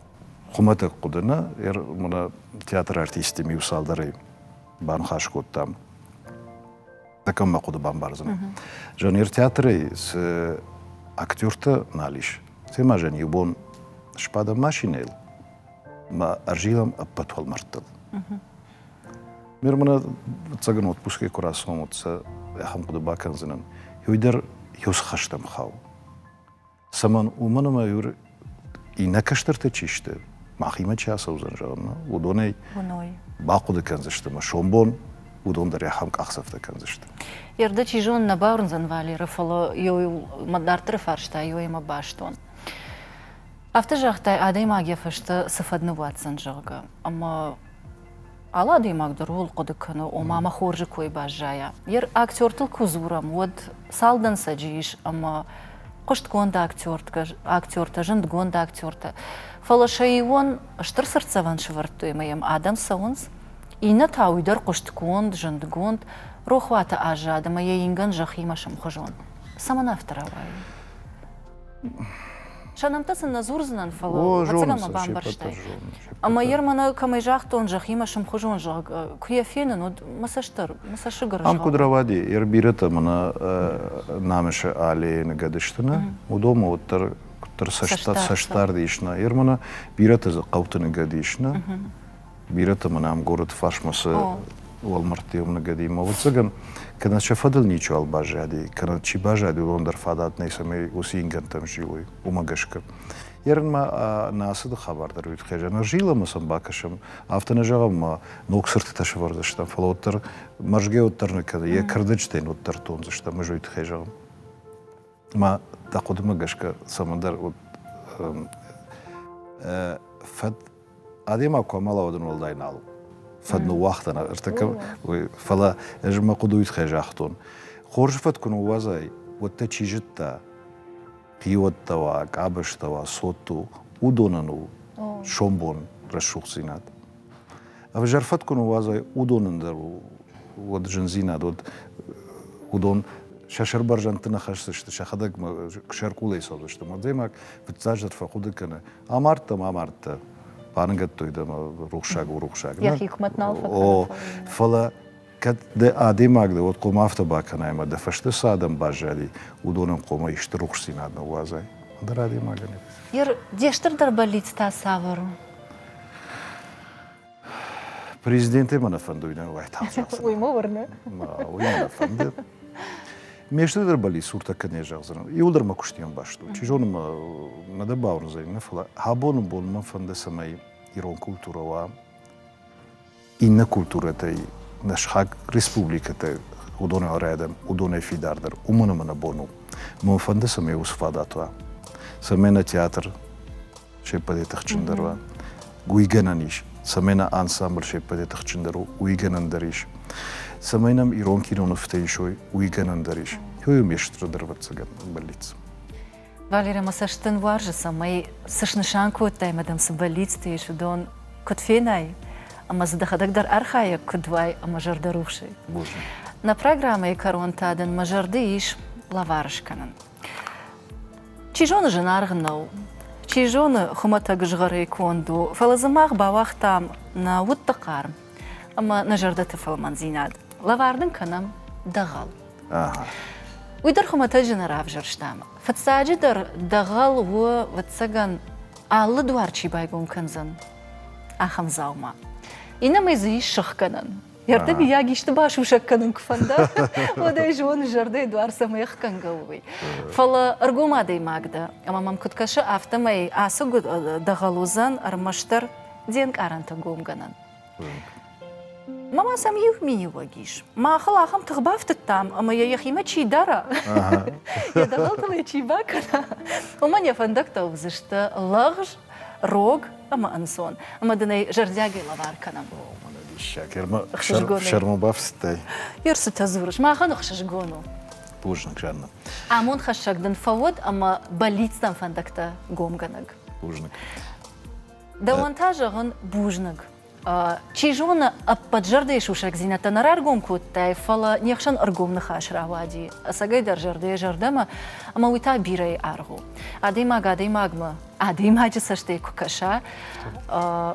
хуымӕтӕг хъуыды нӕ, йӕ мӕнӕ театры артисттӕм иу цалдӕрӕй баныхас кодтам кӕм мӕ хъуыды бамбардзынӕ жанр театрӕй цы актерты нал ис темӕ жан иу бон сбадӕм машинӕйыл мӕ ӕрзилӕм ӕппӕт уӕлмӕрдтыл ме рмӕнӕ ӕцӕгӕн отпускӕй куы рацӕуӕм уӕд сӕ ахӕм хъуыды бакӕндзынӕн иуӕй дӕр иу цы хӕстӕм хауы Цӕмӕн? Уымӕн ӕмӕ Юр иннӕ кӕстӕртӕ чи сты, махимӕ чи ацӕудзӕн, зӕгъӕмӕ, уыдонӕй бахъуыды кӕндзысты ӕмӕ сомбон уыдон дӕр ахӕм къахдзӕфтӕ кӕндзысты. Ердӕ, чи зоны, нӕ бауырндзӕн Валеры, фӕлӕ иу дарддӕры фарста иуӕймӕ бӕстон. Афтӕ загътай, адӕймаг йӕ фӕстӕ цы фӕд ныууадздзӕн, зӕгъгӕ. Ӕмӕ Алы адӕймаг дӕр ууыл хъуыды кӕны, ома мӕ хорзы кой баззайа. Йе рактертыл куы дзурӕм, уӕд цал дӕнцӕджы ис ӕмӕ хъуыстгонд актертгӕ, актертӕ, зындгонд актертӕ. Фӕлӕ сӕион стыр цыртдзӕвӕн сывӕрдтой ӕмӕ йӕм адӕм цӕуынц, иннӕ та уый дӕр хъуыстгонд, зындгонд, рохуаты аззад ӕмӕ йӕ ингӕн зӕххимӕ сымхуызон. Цӕмӕн афтӕ рауайы? Сӕ нӕмттӕ сын нӕ дзурдзынӕн, фӕлӕ ӕцӕгӕн мӕ бамбӕрстай. Ӕмӕ йер мӕнӕ кӕмӕй загътон, зӕххимӕ сымхуызон зӕгъ, куы йӕ фенын, уӕд мӕ цӕстдӕр, мӕ цӕссыгы рызгъа. Ам куыд рауади, йер бирӕтӕ мӕнӕ намысы аллейы ныгӕд сты нӕ, уыдонмӕ уӕддӕр куыддӕр цӕстдард ис нӕ, йер мӕнӕ бирӕтӕ дзы хъӕуты ныгӕд ис нӕ. Бирӕтӕ мын ам горӕты фарсмӕ сӕ уӕлмӕрдты ном ныгӕдимӕ. Ӕвӕццӕгӕн, кӕнӕ сӕ фӕдыл ничиуал баззади, кӕнӕ чи баззади, уыдон дӕр фадат нӕй, цӕмӕй уыцы ингӕнтӕм зилой, уымӕ гӕсгӕ. Ерынмӕ нӕ ацыды хабар дӕр уыд хъежа. Нӕ зилӕмӕ сӕм бакӕсӕм, афтӕ нӕ зӕгъӕм, ма ног цыртытӕ сӕвӕрдзыстӕм, фӕлӕ уӕддӕр мӕрзгӕ уӕддӕр нӕ кӕны, йӕ кӕрдӕджытӕ йын уӕддӕр тондзыстӕм, ӕз уый тыххӕй зӕгъын. Ма дӕ хъуыдымӕ гӕсгӕ цӕмӕндӕр уыд фӕд Адӕймаг куы амӕла, уӕд ын уӕлдай нал у. Фӕд ныууагътан ӕртӕкӕм, фӕлӕ ӕз мӕ хъуыдыйы тыххӕй загътон. Хорзы фӕд куы ныууадзай, уӕд дӕ чи зыдта? Хиуӕттӕ уа, къабӕзтӕ уа, цотт у, уыдонӕн у сомбон рӕсугъддзинад. Ӕвзӕр фӕд куы ныууадзай, уыдонӕн дӕр уӕд зындзинад, уӕд уыдон сӕ сӕрбӕрзӕндты нӕ хӕсдзысты, сӕхӕдӕг сӕркъулӕй цӕудзысты. Адӕймаг фыццаджыдӕр фӕхъуыды кӕны, Амардтам, амардта. Баныгӕдтой дӕм рухсаг у рухсаг. Йӕхи хъумӕт нал фӕкӕна. Фӕлӕ кӕд дӕ адӕймаг дӕ, уӕд хъом афтӕ бакӕнай, ӕмӕ дӕ фӕсте цы адӕм баззади, уыдонӕн хъомӕй стыр рухсдзинад ныууадзай. Ӕндӕр адӕймагӕн. Ир, де стырдӕр бӕллиц та цавӕр у? Президенте мӕ нӕ фӕндуй нӕ уайтагъд зӕгъдзӕн. Уый мӕ уырны. Уый мӕ нӕ фӕнды. Ме студенты рбали суртӕ кӕнӕ зӕгъдзӕн, иууылдӕр мӕ куыстийӕн баст у. Чи зоны мӕ нӕ дӕ бауырндзӕни, нӕ фӕлӕ абоны бон мӕн фӕнды, цӕмӕй ирон культурӕ уа иннӕ культурӕтӕй нӕ схаг республикӕтӕй уыдонӕй арӕдӕм, уыдонӕй фидардӕр. Уымӕн ӕмӕ нӕ бон у. Мӕ фӕнды, цӕмӕй уыцы фадат уа, цӕмӕй нӕ театр се ппӕтӕй тыхджындӕр уа. Уый гӕнӕн ис, цӕмӕй нӕ ансамбль се ппӕтӕй тыхджындӕр у, уый гӕнӕн дӕр ис. Цӕмӕй нӕм ирон кинонывтӕ исой, уый гӕнӕн дӕр ис. Хёйо Мещтры дӕр ӕвӕццӕгӕн бӕллиц. Валерия, мӕ цӕст дын уарзы, цӕмӕй цы снысан кодтай мадам, цы бӕллицты ис, уыдон куыд фенай ӕмӕ дзы дӕхӕдӕг дӕр архайӕг куыд уай ӕмӕ зӕрдӕрухсӕй. Бузныг. Нӕ программӕйы кӕрон та дын мӕ зӕрды ис лӕвар скӕнын. Чи зоны, зынаргъ нӕу. Чи зоны, хуымӕтӕг згъӕрӕй конд у, фӕлӕ дзы мах бауагътам нӕ удты хъарм ӕмӕ нӕ зӕрдӕты фӕлмӕндзинад. Лӕвар дын кӕнӕм дӕгъӕл. Уый дӕр хуымӕтӕджы нӕ равзӕрстам. Фыццаджыдӕр, дӕгъӕл у, ӕвӕццӕгӕн, алы дуар чи байгом кӕндзӕн, ахӕм дзаума. Иннӕмӕй дзы ис сыхгӕнӕн. Йӕ ртӕбийаг исты басусӕг кӕнын куы фӕнда, уӕд ӕй зоны, зӕрдӕйы дуар цӕмӕй ӕхгӕнгӕ у, уый. Фӕлӕ ӕргом адӕймаг дӕ, ӕмӕ мӕм куыд кӕсы, афтӕмӕй ацы гуыд дӕгъӕл уыдзӕн ӕрмӕстдӕр де нкъарӕнты гомгӕнӕн. Мӕ ма сӕм иу миниуӕг ис. Махыл ахӕм тых бафтыдтам, ӕмӕ йӕ йӕхимӕ чи дара, йӕ дӕгъӕлтыл йӕ чи бакӕна, уымӕн йӕ фӕндӕгтӕ уыдзысты лӕгъз, рог, ӕмӕ ӕнцон, ӕмӕ дын ӕй зӕрдиагӕй лӕвар кӕнӕм. О, мӕнӕ диссаг, Ермӕ сӕрмӕ бафсыдтай? Ер цытӕ дзурыс, махӕн ӕхсызгон у. Бузныг, Жаннӕ. Амондхӕссӕг дын фӕуӕд ӕмӕ бӕллицтӕм фӕндӕгтӕ гомгӕнӕг. Бузныг. Дӕуӕн та зӕгъын бузныг. Чи зоны, ӕппӕт зӕрдӕйы сусӕгдзинӕдтӕ нӕ раргом кодтай, фӕлӕ не хсӕн ӕргом ныхас рауади ӕцӕгӕйдӕр зӕрдӕйӕ зӕрдӕмӕ, ӕмӕ уый та бирӕйы аргъ у. Адӕймаг адӕймагмӕ, адӕймаджы цӕстӕй куы кӕса,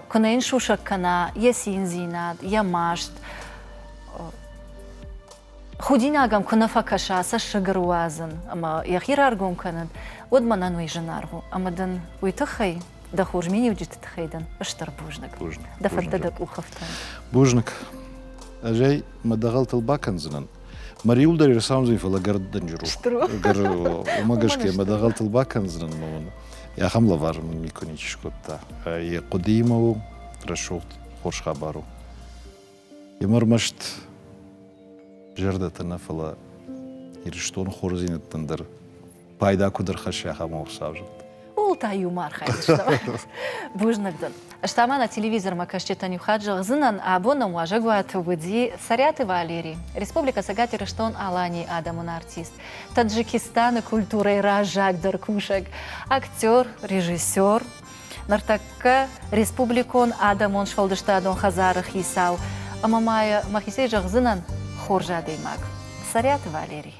куы нӕ йын сусӕг кӕна йӕ циндзинад, йӕ маст. Худинагӕм куы нӕ фӕкӕса цӕссыгы руадзын ӕмӕ йӕхи раргом кӕнын, уӕд мӕнӕн уый зынаргъ у ӕмӕ дын уый тыххӕй, дӕ хорз миниуджыты тыххӕй дын стыр бузныг. Бузныг. Дӕ фырттӕ дӕ къухыфтӕн. Бузныг. Ӕз ӕй мӕ дӕгъӕлтыл бакӕндзынӕн. Мариуылдӕр ӕрцауындзӕн, фӕлӕ гӕрд дӕнджыр у. Уымӕ гӕсгӕ мӕ дӕгъӕлтыл бакӕндзынӕн мӕ уыны. Ахӕм лӕвар мын никуы ничи скодта. Йӕ хъуыдыимӕ у рӕсугъд хорз хабар у. Йӕм ӕрмӕст зӕрдӕты нӕ, фӕлӕ Ирыстоны хорздзинӕдтӕн дӕр пайда куыд ӕрхӕсса, ахӕм ӕрцавзӕрд. Ууыл та-иу ма архайдзыстӕм. Бузныг дын. Ӕз та ма нӕ телевизормӕ кӕсджытӕн иу хатт зӕгъдзынӕн, абон нӕм уазӕгуаты уыди Цӕриаты Валери, Республикӕ Цӕгат Ирыстон-Аланийы адӕмон артист, Таджикистаны культурӕйы раззагдӕр кусӕг, актер, режиссер, Ныртӕккӕ Республикон адӕмон сфӕлдыстадон хӕдзары хицау ӕмӕ ма мӕхицӕй зӕгъдзынӕн хорз адӕймаг Цӕриаты Валерий.